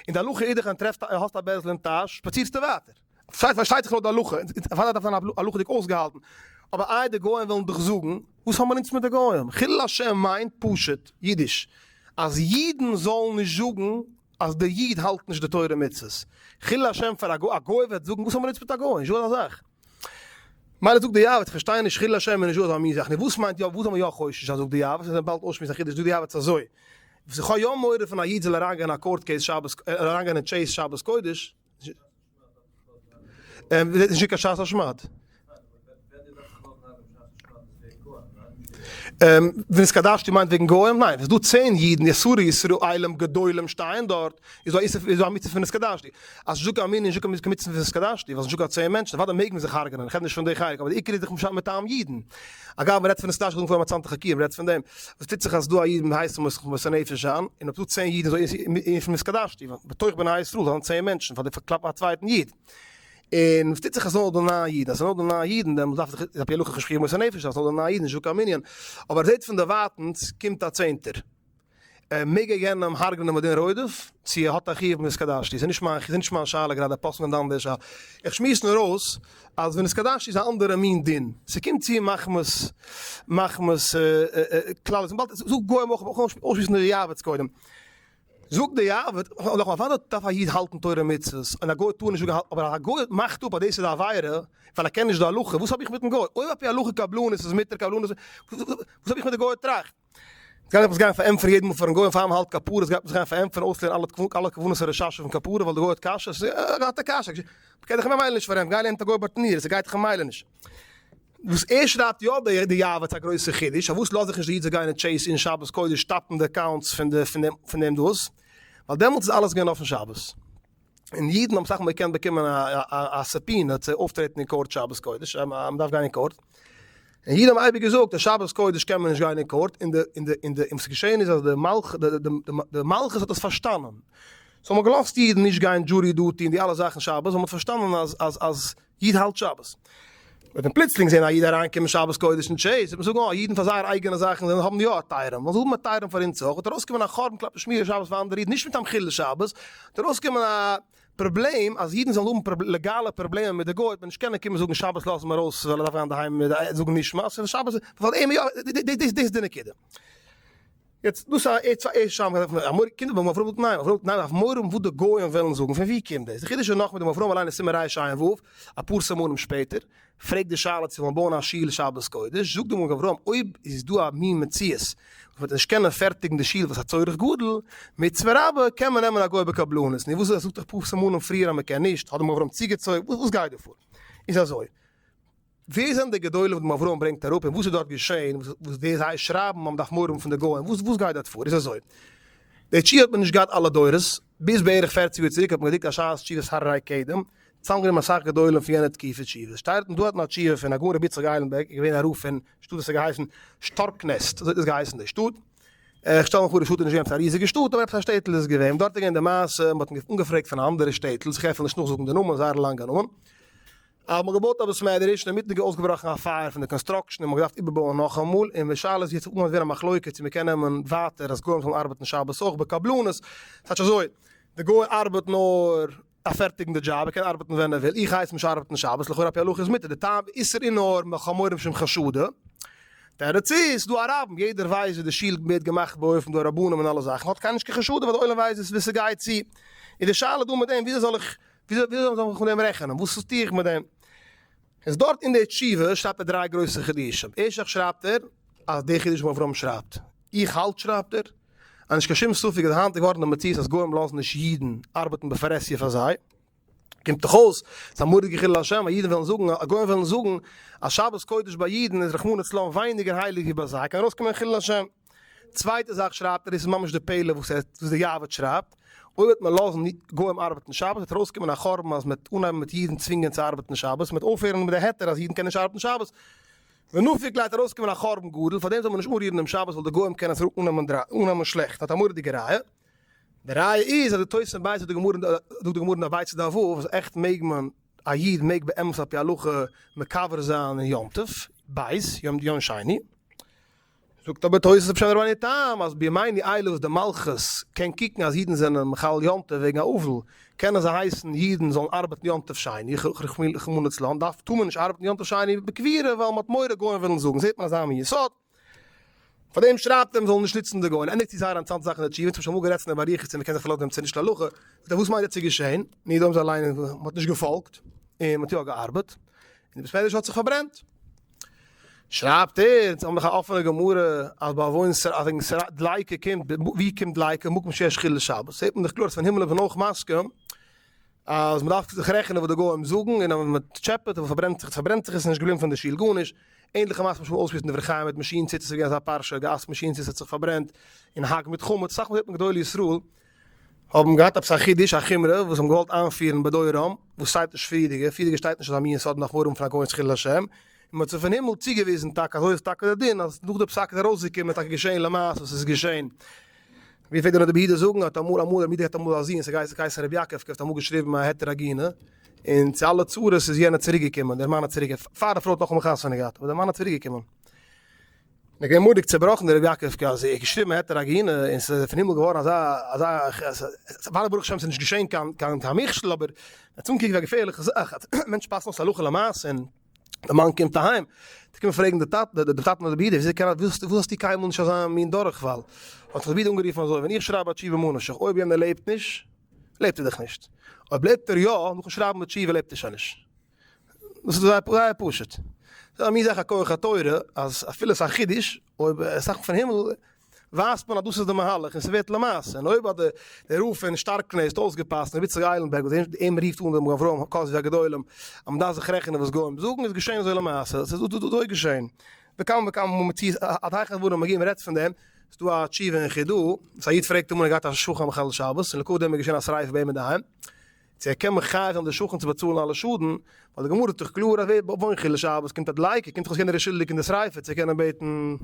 און די הלכה אידעך ווען טרעפסט האסט א בערזל אין טאש שפאצירסטו ווייטער. פארשטייט זיך לויט די הלכה, און פאר דאס דארף זיין הלכה'דיג אויסגעהאלטן, אבער איי די גוים וועלן דיך זאגן? וואס האבן אונז מיט די גוים? חילול השם מיינט פשוט אידיש אז אידן זאלן נישט זאגן אז די איד האלט נישט די תורה ומצוות. חילול השם פאר א גוי, א גוי וועט זאגן וואס האבן אונז מיט א גוי? נישטא אזא זאך. מילא זאג די יאוועץ, איך פארשטיי נישט חילול השם און נישט דא מוז איך נישט, וואס מיינט יא וואס זאל מען יא חושש זיין זאג די יאוועץ, און באלד אויסשמועסן א חידוש זאג די יאוועץ אזוי, וואס איך האב יא מורא פון א איד זאל אריינגיין א קאורט קעיס שבת אריינגיין אין טשעיס שבת קודש, און דאס איז נישט קיין שאס אשמד. און ונתקדשתי מיינט וועגן גוים? ניין, ס'איז דא צען אידן יסורי ישראלים גדולים שטייען דארט, איז דא א מצוה פון ונתקדשתי? אז נישטא קיין מנין נישטא קיין מצוה פון ונתקדשתי, ווייל ס'נישטא קיין צען מענטשן, אוודאי מעג מען זיך הרג'ענען, איך רעד נישט פון די חלק, אבער די עיקר איז דאך משאכ מטעם אידן. אגב, מ'רעדט פון ונתקדשתי קודם פאר מצאנתא חקירא, מ'רעדט פון דעם, וואס טוט זיך אז ס'דא א איד מיט הייסע מסר נפש און אויב ס'דא צען אידן איז דא אינפין ונתקדשתי, בתוך בני ישראל זענען צען מענטשן פאר די פארקלאפן א צווייטן איד, און וואס טוט זיך אז ס'נאר דא נײַן אידן, אז ס'נאר דא נײַן אידן דעמאלטס דארף זיך, איז עפ י הלכה חשבון מוסר נפש אז ס'נאר דא נײַן אידן איז נישט דא קיין מנין, אבער ער זעט פון דערווייטענס קומט א צענטער, מעג ער יענעם הרג'נען מדין רודף, צו ער האט א חיוב מ'נתקדשתי, ס'איז נישט מיין, ס'איז נישט מיין שאלה גראדע, פסק'נען די אנדערש, איך שמועס נאר אויס אז ונתקדשתי איז א אנדערע מין דין, ס'קומט צו מחמת מחמת כלל, זאג גוים אויך, אויך אויסשמועסן די יעבץ קודם. זאגט די אייוועלט, נאכאמאל פארוואס דארף א איד האלטן תורה ומצוות און א גוי טאר נישט זאגן הלל, אבער א גוי מאכט אפ אז דאס איז א עבירה ווייל ער קען נישט די הלכה, וואס האב איך מיטן גוי? אויב אפי' הלכה קבלנות איז מותר קבלנות, וואס האב איך מיט די גויער טראכט? יעצט גייט עפעס גיין פארענטפערן יעדן מאל פארן גוי און פאר מען האלט כפרות גייט מען זיך גיין פארענטפערן אויסלערנען אלע תקנות אלע כוונות פון רשש אויפן כפרה ווייל די גוי האט קשיות, האט ער קשיות, געבט דיך ממילא נישט פארענטפערן, גיי לערן מיט א גוי ביי טענה'ער, ס'גייט דיך ממילא נישט. וואס ער שרייבט יא אבער די יאוועט איז א גרויסע חידוש פארוואס לאזט זיך נישט די איד זיך גיין אין טשעיס אין שבת קודש טאפן די אקאונטס פון די פון דעם דאס ווייל דעמאלטס איז אלעס געווען אויפן שבת און אידן האבן אסאך מאל געקענט באקומען א סובפינע צו אויפטרעטן אין קאורט שבת קודש אז מען דארף גיין אין קאורט און אידן האבן אייביג געזאגט אז שבת קודש קען מען נישט גיין אין קאורט און די און די און די און וואס געשען איז אז די מלכות די מלכות האט עס פארשטאנען סאו מען האט געלאזט אידן נישט גיין דזשורי דוטי און די אלע זאכן שבת ווייל מען האט פארשטאנען אז אז אז איד האלט שבת. וועט מען פלוצלינג זען א איד אריינקומען שבת קודש אין טשעיס, וועט מען זאגן, אה, אידן פאר זייערע אייגענע זאכן זענען האבן יא א טייערעם, וועלן זיי האבן א טייערעם פאר אונז אויך, וועט ארויסקומען א חורבן כלפי שמירת שבת פאר אנדערע אידן, נישט מטעם חילול שבת, וועט ארויסקומען א פראבלעם, אז אידן זאלן האבן לעגאלע פראבלעמען מיט די גוי, וועט מען נישט קענען קומען זאגן שבת לאז אים ארויס ווייל ער דארף גיין אינדערהיים זאגן נשמת, ווייל שבת איז פאר אים, דאס איז די נקודה. יעצט דאס א עצה עיי ש אויף די אמורא קינדער וואלט מען אפראוועט ניין מען אפראוועט ניין אויף מורא וואס די גוים וועלן זאגן פון ווי קומט דאס די חידוש איז נאך מיט דעם אפראווען אליין אין סימן רש ע עמ' ו' אפאר סימנים שפעטער פרעגט די שאלה צו מען בויען א שול שבת קודש זאגט די מגן אברהם אויב איז דא א מין מציאות וואס מען וועט נישט קענען פערטיגן די שול וואס א צורך גדול מצוה רבה קען מען נעמען א גוי בקבלנות נו וואס איז עס זאגט דאך אפאר סימנים פריער אז מען קען נישט האט די מגן אברהם צוגעצויגן וואס גייט דא פאר איז אזוי. ווער זענען די גדולים וואס דעם אברהם ברענגט אראפ און וואס איז דארט געשען וואס די זיי שרייבן האבן דאך מורא פון די גוים וואס וואס גייט דארט פאר איז אזוי די תשובה האט מען נישט געהאט אלע דורות ביז בערך פֿערציק יאר צוריק האט מען געדרוקט א ש ס תשובות הר ר קדם צוזאמגענומען אסאך גדולים פון יענע תקופה תשובות שטייט און דא האט מען א תשובה פון הגאון רבי יצחק איילנבערג איז געווען א רב פון שטאט וואס האט געהייסן שטארקנעסט אזוי האט דאס געהייסן די שטאט איך שטעל מיך פאר די שטאט איז נישט געווען עפעס א ריזיגע שטאט אבער עפעס א שטעטל איז עס געווען און דארט איז געווען די מעשה מען האט אנגעפרעגט פון אנדערע שטעטל איך העל נישט נאכזאגן די נאמען זייער א לאנגע נאמען. האט מען געבויט א בית מדרש און אינמיטן איז אויסגעבראכן א פייער פון די קאנסטראקשען און מען האט געדארפט איבערבויען נאכאמאל און משל איז יעצט אנגעהויבן ווערן א מחלוקה צו מען קען נעמען ווייטער אז גוים זאלן ארבעטן שבת אויך בקבלנות כאטש אזוי די גוי ארבעט נאר א פערטיגן די דזשאב ער קען ארבעטן ווען ער וויל איך הייס נישט ארבעטן שבת לכאורה עפ י הלכה איז מותר די טעם ואיסור איז נאר מחמורים שהם חשדה תירוץ איז ס'דא א רב און יעדער ווייסט ווי די שול ווערט געמאכט באופן די רבנים און אלע זאכן האט קיינער נישט קיין חשדה ווייל די עולם ווייסט ווי ס'גייט צו איז די שאלה דא מיט דעם וויאזוי זאל איך וויאזוי זאל איך מיך מיט דעם רעכענען? וואס טו איך מיט דעם? איז דארט אין די תשובה שרייבט ער דריי גרויסע חידושים. ערשטליך שרייבט ער אז די חידוש וואס אברהם שרייבט, איך האלט שרייבט ער, אז נישט קיין שום ספק איז היינט געווארן די מציאות אז גוים לאזן נישט אידן ארבעטן בפרהסיא פאר זיי. קומט דאך אויס ס'איז א מורא'דיגע חילול השם אז אידן וועלן זאגן, אז גוים וועלן זאגן, אז שבת קודש ביי אידן איז רחמנא לצלן ווייניגער הייליג ווי ביי זיי, קען ארויסקומען חילול השם. צווייטע זאך שרייבט ער, דאס איז ממש די פעלער וואס די יאוועד שרייבט, אויב וועט מען לאזן גוים ארבעטן שבת וועט ארויסקומען א חורבן אז מ'וועט אנהייבן מיט אידן צווינגען צו ארבעטן שבת, מ'וועט אויפהערן מיט די היתר אז אידן קענען נישט ארבעטן שבת, ונפיק גייט ארויסקומען א חורבן גדול, פארדעם זאל מען נישט אנרירן דעם שבת ווייל די גוים קענען עס אננעמען שלעכט, האט א מורא'דיגע ראיה, די ראיה איז אז די תוס' אין בית זאגט די גמרא אין אביצ ד א ו אז עכט מעג מען, א איד מעג באמת על פי הלכה מקבר זיין אין יום טוב, בית, יום שני. זאגט אבער תוס' אפשר דער בעלי טעם אז בימי נעילה וואס די מלכות קען קוקן אז אידן זענען מחלל יום טוב וועגן א אבל, קענען זיי הייסן אידן זאלן ארבעטן יום טוב שני, רחמנא לצלן, דארף טאר מען נישט ארבעטן יום טוב שני בקבירה ווייל מען האט מורא גוים וועלן זאגן, זעט מען אזא מין יסוד, פארדעם שרייבט ער מען זאל נישט נוצן די גוים, ער ענדיגט צו זייער א אינטערעסאנטע זאך אין די תשובה, אונז האבן שוין אמאל גערעדט פון דעם באריכות צו מען קען זיך פארלאזן אויף דעם צו נישט להלכה, זאגט ער וואס מיינט עטס איז געשען, און יעדער זאל זיי ליינען, מען האט נישט געפאלגט, און מען האט יא געארבעט, און די בית מדרש האט זיך פארברענט. שרייבט ער, זיי האבן דאך א אפענע גמרא אז ביי וואוין ס ר אז וועגן ס ר דלייקע קומט, ווי קומט דלייקע? מקום שיש חילול שבת, זעט מען דאך קלאר אז פון הימל איז מען אויך מסכים אז מען דארף זיך רעכענען וואס די גוים זאגן און אז מען טשעפעט און פארברענט זיך פארברענט זיך עס איז נישט געבליבן פון די שול גארנישט, ענדליכע מעשה וואס מען האט אויסגעפירט אין דברי חיים מיט מאשין ציץ עס איז געווען אזא פרשה, געהאסט מאשין ציץ האט זיך פארברענט און האק מיט חמץ, סך הכל זעט מען גדולי ישראל האבן געהאט עפעס א חידוש, א חומרא, וואס זיי האבן געוואלט איינפירן בדורם, וואס שטייט נישט פריערדיגע, פריערדיגע שטייט נישט אזא מין סוד מאחורים פון א כהנ'ס חילול השם, און מען האט זיי פון הימל צוגעוויזן טאקע, אזוי איז טאקע דער דין, אז נאך די פסק איז ארויסגעקומען, טאקע געשעהן למעשה וואס עס איז געשעהן. ווי פלעגט דער נודע ביהודה זאגן, האט אמאל אמאל רבי מידער געהאט אמאל א זוהן, ס'האט געהייסן געהייסן רבי יעקב, כ'האב אמאל געשריבן א היתר עגינה, און צו אלע צרות איז יענער צוריק געקומען, דער מאן איז צוריק, פאר די פרוי האט נאכאמאל חתונה געהאט, אבער דער מאן איז צוריק געקומען. איך בין מורא'דיג צעבראכן די ר' יעקב קאר זי ע האט געשריבן העטער א גיהנם און ס'איז פון הימל געווארן אזא אזא פארא ברוך השם ס'איז נישט געשעהן קיין קיין קיין מכשול אבער עטס אנגעקוקט ווי א געפערליכע זאך אז מענטשן פאסן אויס הלכה למעשה און די מאן קומט אהיים די קומען פרעגן די טאטע די די טאטן אדער ברודער וויאזוי קען וואס וואס האסטו קיינמאל נישט אזא מין דורכפאל האט זיך די בי ד אנגערופן אזוי ווען איך שרייב א תשובה מאן איך זיך אויב יענער לעבט נישט לעבט ער דאך נישט אויב לעבט ער יא נאכן שרייבן די תשובה לעבט ער שוין נישט. דאס איז זייער זייער פשוט. זיי האבן מיר זעך א כח התורה אז אפילו ס'איז א חידוש, אויב עס זאכן פון הימל, ווייזט מען אז דאס איז די מהלך און ס'ווערט למעשה. און אויב האט די די רב פון שטארקנעסט אויסגעפאסט רבי איציק איילנבערג וואס אים אים רופט אן רבי אברהם האקאזי הגדולים אז מ'דארף זיך רעכענען וואס גוים זאגן, איז געשען אזוי למעשה. ס'איז אזוי געשען. וכמה וכמה מציאות עד היכן דברים מגיעים מ'רעדט פון דעם. ס'איז דא א תשובה אין חידא, וואס א איד פרעגט אמאל ער האט געהאט א שכן מחלל שבת, און לכבוד דעם איז געשען א שריפה ביי אים אינדערהיים. צו ער קען מכריח'ן די שכן צו באצאלן אלע שאדן, ווייל די גמרא איז דאך קלאר אז ווער בעט וואוין חילול שבת קומט א דלייקער, קומט דאך אויס יענער איז שולדיג אין די שריפה צו קענען בעטן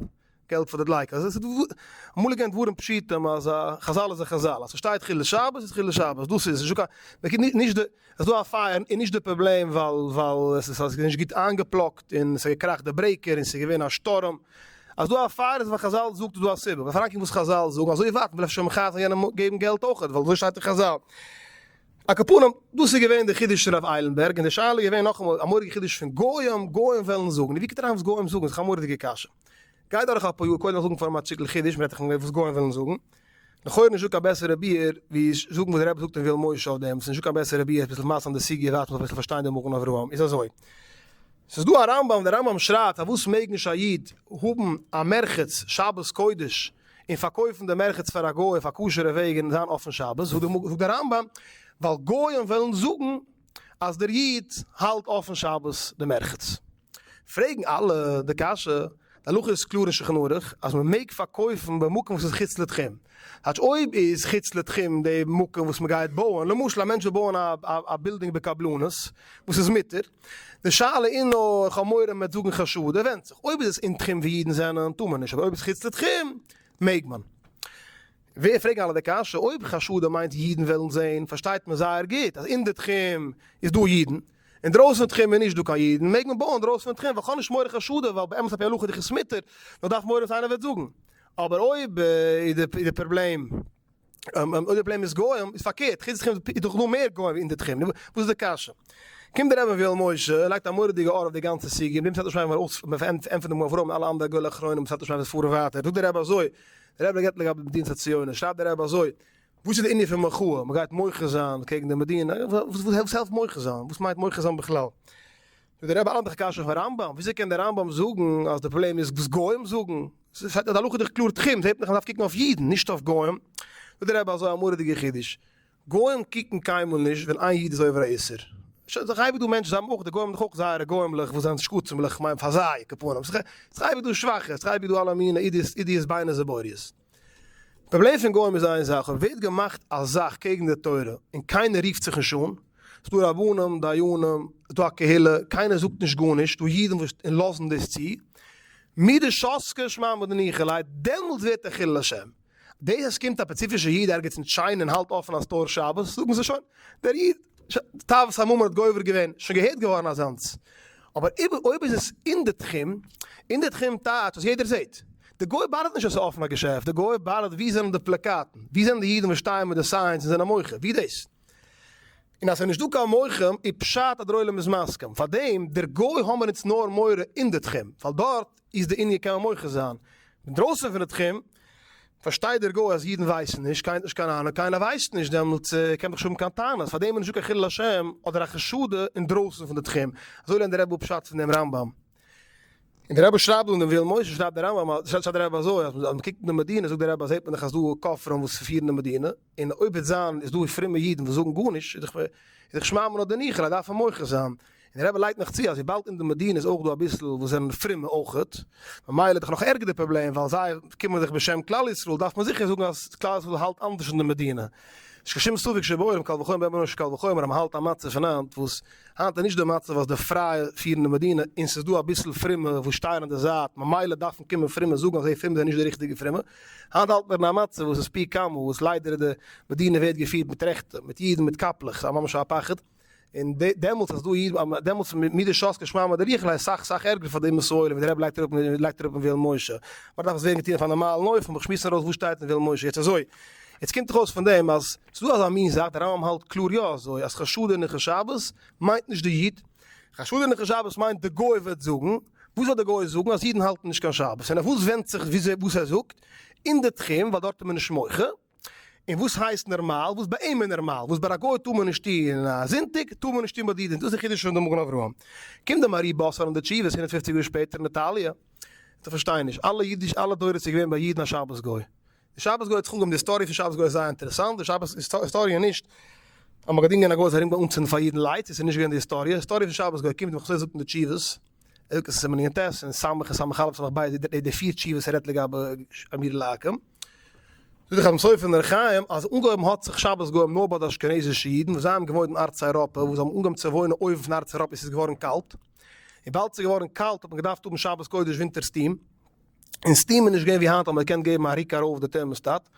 געלט פאר די דלייקער, אז עס איז אמאל געווען דברים פשוטים אז א חזל איז א חזל, אז ס'שטייט חילול שבת איז חילול שבת, דאס איז, ס'נישטא קיין, נישט די, עס איז דא א פייער איז נישט די פראבלעם ווייל ווייל עס איז נישט גוט איינגעפלאגט און עס האט געקראכט די ברעיקער און ס'איז געווען א שטורם, אז דא א פאר איז ווייל חזל זאגט איז דא א סיבה, מ'פארלאנגט קעגן וואס חזל זאגן, אזוי ווייט מ'וויל אפשר מחייב זיין יענעם געבן געלט אויכעט, ווייל אזוי שטייט אין חזל. על כל פנים, דאס איז געווען די חידוש פון רב איילנבערג, און די שאלה איז געווען נאכאמאל א מורא'דיגע חידוש פון גוים, גוים וועלן זאגן, און ווי קומט אריין וואס גוים זאגן, איז דאך א מורא'דיגע קשיא. גיי דורך אפאר יאר, קודם זאגן פאר מ'האט שטיקל חידוש, מ'רעדט דאך פון וואס גוים וועלן זאגן. לכאורה נישטא קיין בעסערע ביאור ווי זאגן וואס דער רבי זאגט אין ווילן משה אויף דעם, ס'איז נישטא קיין בעסערע ביאור עפעס למעשה אין די סוגיא דארף מען זיך אביסל פארשטיין די מגן אברהם איז אזוי, ס'איז דא א רמב ם, דער רמב ם שרייבט פארוואס מעג נישט א איד האבן א מרחץ שבת קודש און פארקויפן די מרחץ פאר א גוי אויף א כשר'ע וועג און זיין אפן שבת, זאגט דער רמב ם ווייל גויים וועלן זאגן אז דער איד האלט אפן שבת דעם ערכת. פרעגן אלע די קשיא, די הלכה איז קלאר אין שולחן ערוך אז מען מעג פארקויפן במקום וואס איז חוץ לתחום, כאטש אויב איז חוץ לתחום די מקום וואס מען גייט בויען, למשל א מענטש וויל בויען א בילדינג בקבלנות, וואס איז מותר, די שאלה איז נאר, איך האב מורא מען וועט זאגן חשד, עס ווענדט זיך, אויב איז עס אין תחום ווי אידן זענען, טאר מען נישט, אבער אויב איז חוץ לתחום, מעג מען. ווער פרעגן אלע די קשיא, אויב חשדים מיינט אידן וועלן זען, פארשטייט מען זייער גוט אז אין די תחום איז דא אידן, אינדרויסן פון תחום איז נישט דא קיין אידן, מעג מען בויען אינדרויסן פון תחום, וכאן נישט מורא חשדים, ווייל באמת על פי הלכה דיך איז ס'מותר, נאר דארף מורא וואס איינער וועט זאגן. אבער אויב איז די פראבלעם, אויב די פראבלעם איז גוים, איז פארקערט, חוץ די תחום איז דאך דא מער גוים ווי אין די תחום, נו, וואס איז די קשיא? קומט דער אבן ויואל משה און לייגט א מורא'דיגע אור אויף די גאנצע סוגיא, מיט דעם סאטמאר שפרעך ווען מען ענטפערט דעם אברהם און אלע אנדערע גדולי אחרונים, סאטמאר שפרעך דאס פאר און ווייטער, זאגט דער רבי אזוי, דער רבי געבט לגבי מדינת הציונות, שרייבט דער רבי אזוי, וואס איז די ענין פון מחאה, מען גייט מוחה זיין קעגן די מדינה, וואס העלפט מוחה זיין, וואס מיינט מוחה זיין בכלל? זאגט דער רבי, א אנדערע קשיא פון רמב ם, וויאזוי קען דער רמב ם זאגן אז די פראבלעם איז וואס גוים זאגן, עס שטייט אז הלכה איז דאך קלאר תחום, זעט מען דאך אז מען דארף קוקן אויף אידן, נישט אויף גוים, זאגט דער רבי אזוי א מורא'דיגע חידוש, גוים קוקן קיינמאל נישט ווען איין איד איז עובר א איסור. שוין ס'איז אייביג דא מענטשן, זיי האבן אויך, די גוים האבן דאך אויך זייערע גוים'לעך וואס זענען שקצים'לעך, כ'מיין פאר זיי, כפנים, ס'איז אייביג דא שוואכע, ס'איז אייביג דא אלע מיני אידיאס ביינער זבוריות. די פראבלעם פון גוים איז איין זאך, אויב ווערט געמאכט א זאך קעגן די תורה און קיינער רופט זיך נישט אן, ס'דא רבנים, דיינים, ס'דא א קהילה, קיינער זאגט נישט גארנישט, ס'דא אידן וואס לאזן דאס צו, מידי שאסקע שמע מדניחא ליה, דעמאלטס ווערט ער חילול השם. דאס אז עס קומט א פעציפישע איד ערגעץ אין טשיינע און האלט אפען א סטאר שבת זאגן זיי שוין דער איד תאוות הממון האט גובר געווען, שוין געהערט געווארן אזאנס, אבער אויב איז עס אין די תחום, אין די תחום טייטש וואס יעדער זעט, די גוי באדערט נישט אז עס איז אפען א געשעפט, די גוי באדערט ווי זענען די פלאקאטן, ווי זענען די אידן וואס שטייען מיט די סיינס און זענען מוחה, ווי דאס? און אז עס איז נישט דא קיין מוחים איז פשט אז דער עולם איז מסכים, פארדעם דער גוי האמער אונז נאר מורא אין די תחום, ווייל דארט. איז די ענין קען מען מוחה זיין אינדרויסן פון די תחום, פארשטייט דער גוי אז אידן ווייסן נישט, קיינער האט נישט קיין אהנונג, קיינער ווייסט נישט, דעמאלטס קען מען נישט האבן קיין טענות, פארדעם איז נישטא קיין חילול השם אדער א חשדה אינדרויסן פון די תחום, אזוי לערנט דער רבי אפ פשט פון דעם רמב ם. און דער רבי שרייבט דא אין דעם ויואל משה שרייבט דער רמב ם, שרייבט דער רבי אזוי אז אז מען קוקט אין די מדינה זאגט דער רבי זעט מען דאך אז דא כופרים וואס פירן די מדינה, און אויב וועט זיין איז דא פרומע אידן וואס זאגן גארנישט איז דאך איז דאך שמע מינה דניחא אז מען דארף אים מוחה זיין, און דער רבי לייגט נאך צו אז וויבאלד אין די מדינה איז אויך דא אביסל וואס זענען פרומע אויכעט ממילא איז דאך נאך ערגער די פראבלעם ווייל זיי קומען זיך בשם כלל ישראל דארף מען זיכער זאגן אז כלל ישראל האלט אנדערש אין די מדינה נישט קיין שום ספק שבעולם קל וחומר ביי אונז קל וחומר אז מען האלט א מצב פון היינט וואס היינט איז נישט די מצב אז די פרייע פירן די מדינה און ס'איז דא אביסל פרומע וואס שטייען אין די זייט ממילא דארפן קומען פרומע זאגן אז די פרומע זענען נישט די ריכטיגע פרומע. היינט האלט מיר אין א מצב וואס איז פי כמה וואס ליידער די מדינה ווערט געפירט מיט רעכטע, מיט אידן מיט קאפלעך, ס'איז ממש א פחד, און דעמאלטס אז דא איד, דעמאלטס מי דשאס כשמע מא דריחא איז סאך סאך ערגער פאר די אומות העולם ווי די רבי לייגט אראפ לייגט אראפ אין וועלן משה, מיר דארף עס ווערן געטון אויף א נארמאלן אופן, מיר שמועסן ארויס וואס שטייט אין וועלן משה, יעצט אזוי, יעצט קומט דאך אויס פון דעם אז ס'איז דא אזא מין זאך, די רמב ם האלט קלאר יא אזוי, אז חשודה נכה שבת מיינט נישט די איד, חשד'ן איך נישט שבת מיינט די גוי וועט זאגן, וואס וועט די גוי זאגן אז אידן האלטן נישט קיין שבת, און אויף וואס ווענדט זיך וואס ער זאגט, אין די תחום ווייל דארט איז מען נישט מוחה, און וואס הייסט נערמאל, וואס ביי אים איז נערמאל, וואס ביי א גוי טאר מען נישט טוהן א זונטאג, טאר מען נישט טוהן ביי די אידן, דאס איז די חידוש פון די מגן אברהם. קומט די מארי באסעלען די תשובות הונדערט פופציג יאר שפעטער אין איטאליע, איך פארשטיי נישט, אלע אידיש אלע דורות איז געווען ביי אידן א שבת גוי, די שבת גוי האט זיך אנגעהויבן די היסטאריע פון שבת גוי איז זייער אינטערעסאנט, די שבת היסטאריע נישט אז מען האט געדינגען א גוי זיך ארום גיין אנצינדן פאר אידן לייט, דאס איז נישט געווען די היסטאריע, די היסטאריע פון שבת גוי קומט ווי חזו א זאגט אין די תשובות, ער זאגט עס אין סימן ע"ט און ס' און ס' א' ס' ב' די די פיר תשובות ער רעדט לגבי אמיר לעקם, זאגט דער חתם סופר אין אור החיים אז אנגעהויבן האט זיך שבת גוים נאר ביי די אשכנזישע אידן וואס זיי האבן געוואוינט אין ארץ אייראפע וואס זיי האבן אנגעהויבן צו וואוינען אויבן פון ארץ אייראפע וואו ס'איז געווארן קאלט, וויבאלד ס'איז געווארן קאלט האט מען געדארפט האבן שבת קודש ווינטערס טעם. און סטיעם איז נישט געווען ווי היינט אז מען קען געבן א ריק ארויף די טערמאסטאט,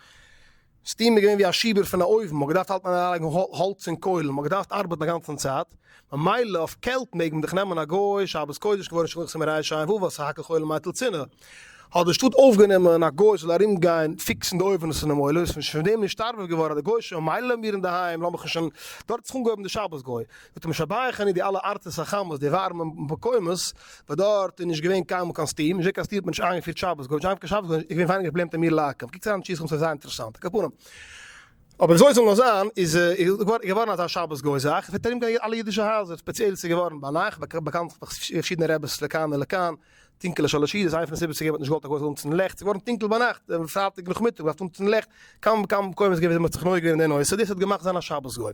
סטיעם איז געווען ווי א שיבער פון א אויוון, מען האט געדארפט האלטן אריין לייגן האלץ און קוילן, מען האט געדארפט ארבעטן א גאנצן צייט, ממילא אויף קעלט מעג מען דאך נעמען א גוי, שבת קודש כבוד און שלוחים רייע שיין וואוו א סך הכל חולה מייטל צינער, האט די שטאט אויפגענומען א גוי ס'זאל ארום גיין פיקסן די אויווענעס אינעם עולם, איז פון דעם נישטארבער געווארן די גוישע ממילא האמיר אינדערהיים לאמיך נישט און דארט האט זיך אנגעהויבן די שבת גוי, האט משבח אני די אלע ארצות החמות, די ווארעמע מקומות, וואס דארט איז נישט געווען קיינמאל קיין סטיעם, נישט געווען קיין סטיעם האט מען נישט איינגעפירט שבת, גארנישט איינגעפירט קיין שבת, איז געווען ווייניגער פראבלעם טעמיר לעקב, קוקטס אריין אין שיסחמ ס'וועט זיין אינטערעסאנט, על כל פנים, אבער וויאזוי עס זאל נאר זיין איז געווארן אזא שבת גוי זאך, עס וועט ארומגיין אלע אידישע הייזער, ספעציעל איז עס געווארן ביינאכט, באקאנט פאר פארשידענע רעבעס לכאן ולכאן. טונקעלע שלשי', איז איינע פון די סיבות צוגעבן האט נישט געוואלט א גוי זאל אנצינדן לעכט, ס'איז געווארן טונקל ביינאכט, דעם פרייטאג נאכמיטאג, מ'דארף אנצינדן לעכט, קאם קאם קוים איז געווען ווי מ'האט זיך נוהג געווען אין די נושא, דאס האט געמאכט זיין א שבת גוי.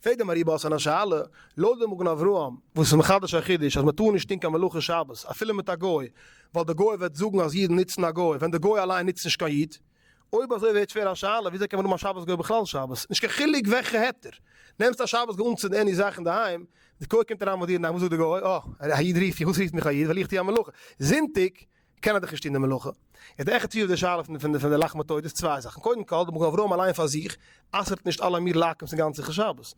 פרעגט די מהרי י באסאן א שאלה, לויט די מגן אברהם, וואס איז מחדש א חידוש אז מ'טאר נישט טון קיין מלאכה שבת, אפילו מיט א גוי, ווייל די גוי וועט זאגן אז אידן נוצן א גוי, ווען די גוי אליין נוצט נישט קיין איד. אויב אזוי ווערט שווער א שאלה, וויאזוי קען מען האבן א שבת גוי בכלל שבת? נישט קיין חילוק וועלכע היתר. נעמסט א שבת גוי אנצינדן עני זאך אינדערהיים, די קוה קומט אריין ביי דיר נאכט, וואס זאגט די גוי? אה, א איד רופט מיך, וואס רופט מיך א איד, וועל איך טון א מלאכה. זונטאג קען ער דאך נישט טון די מלאכה. איז די עכט סביב די שאלה פון די לחמתו דאס צוויי זאכן, קודם כל, די מגן אברהם אליין פאר זיך, אסר'ט נישט אלע אמיר לעקם'ס אין גאנצן ח' שבת,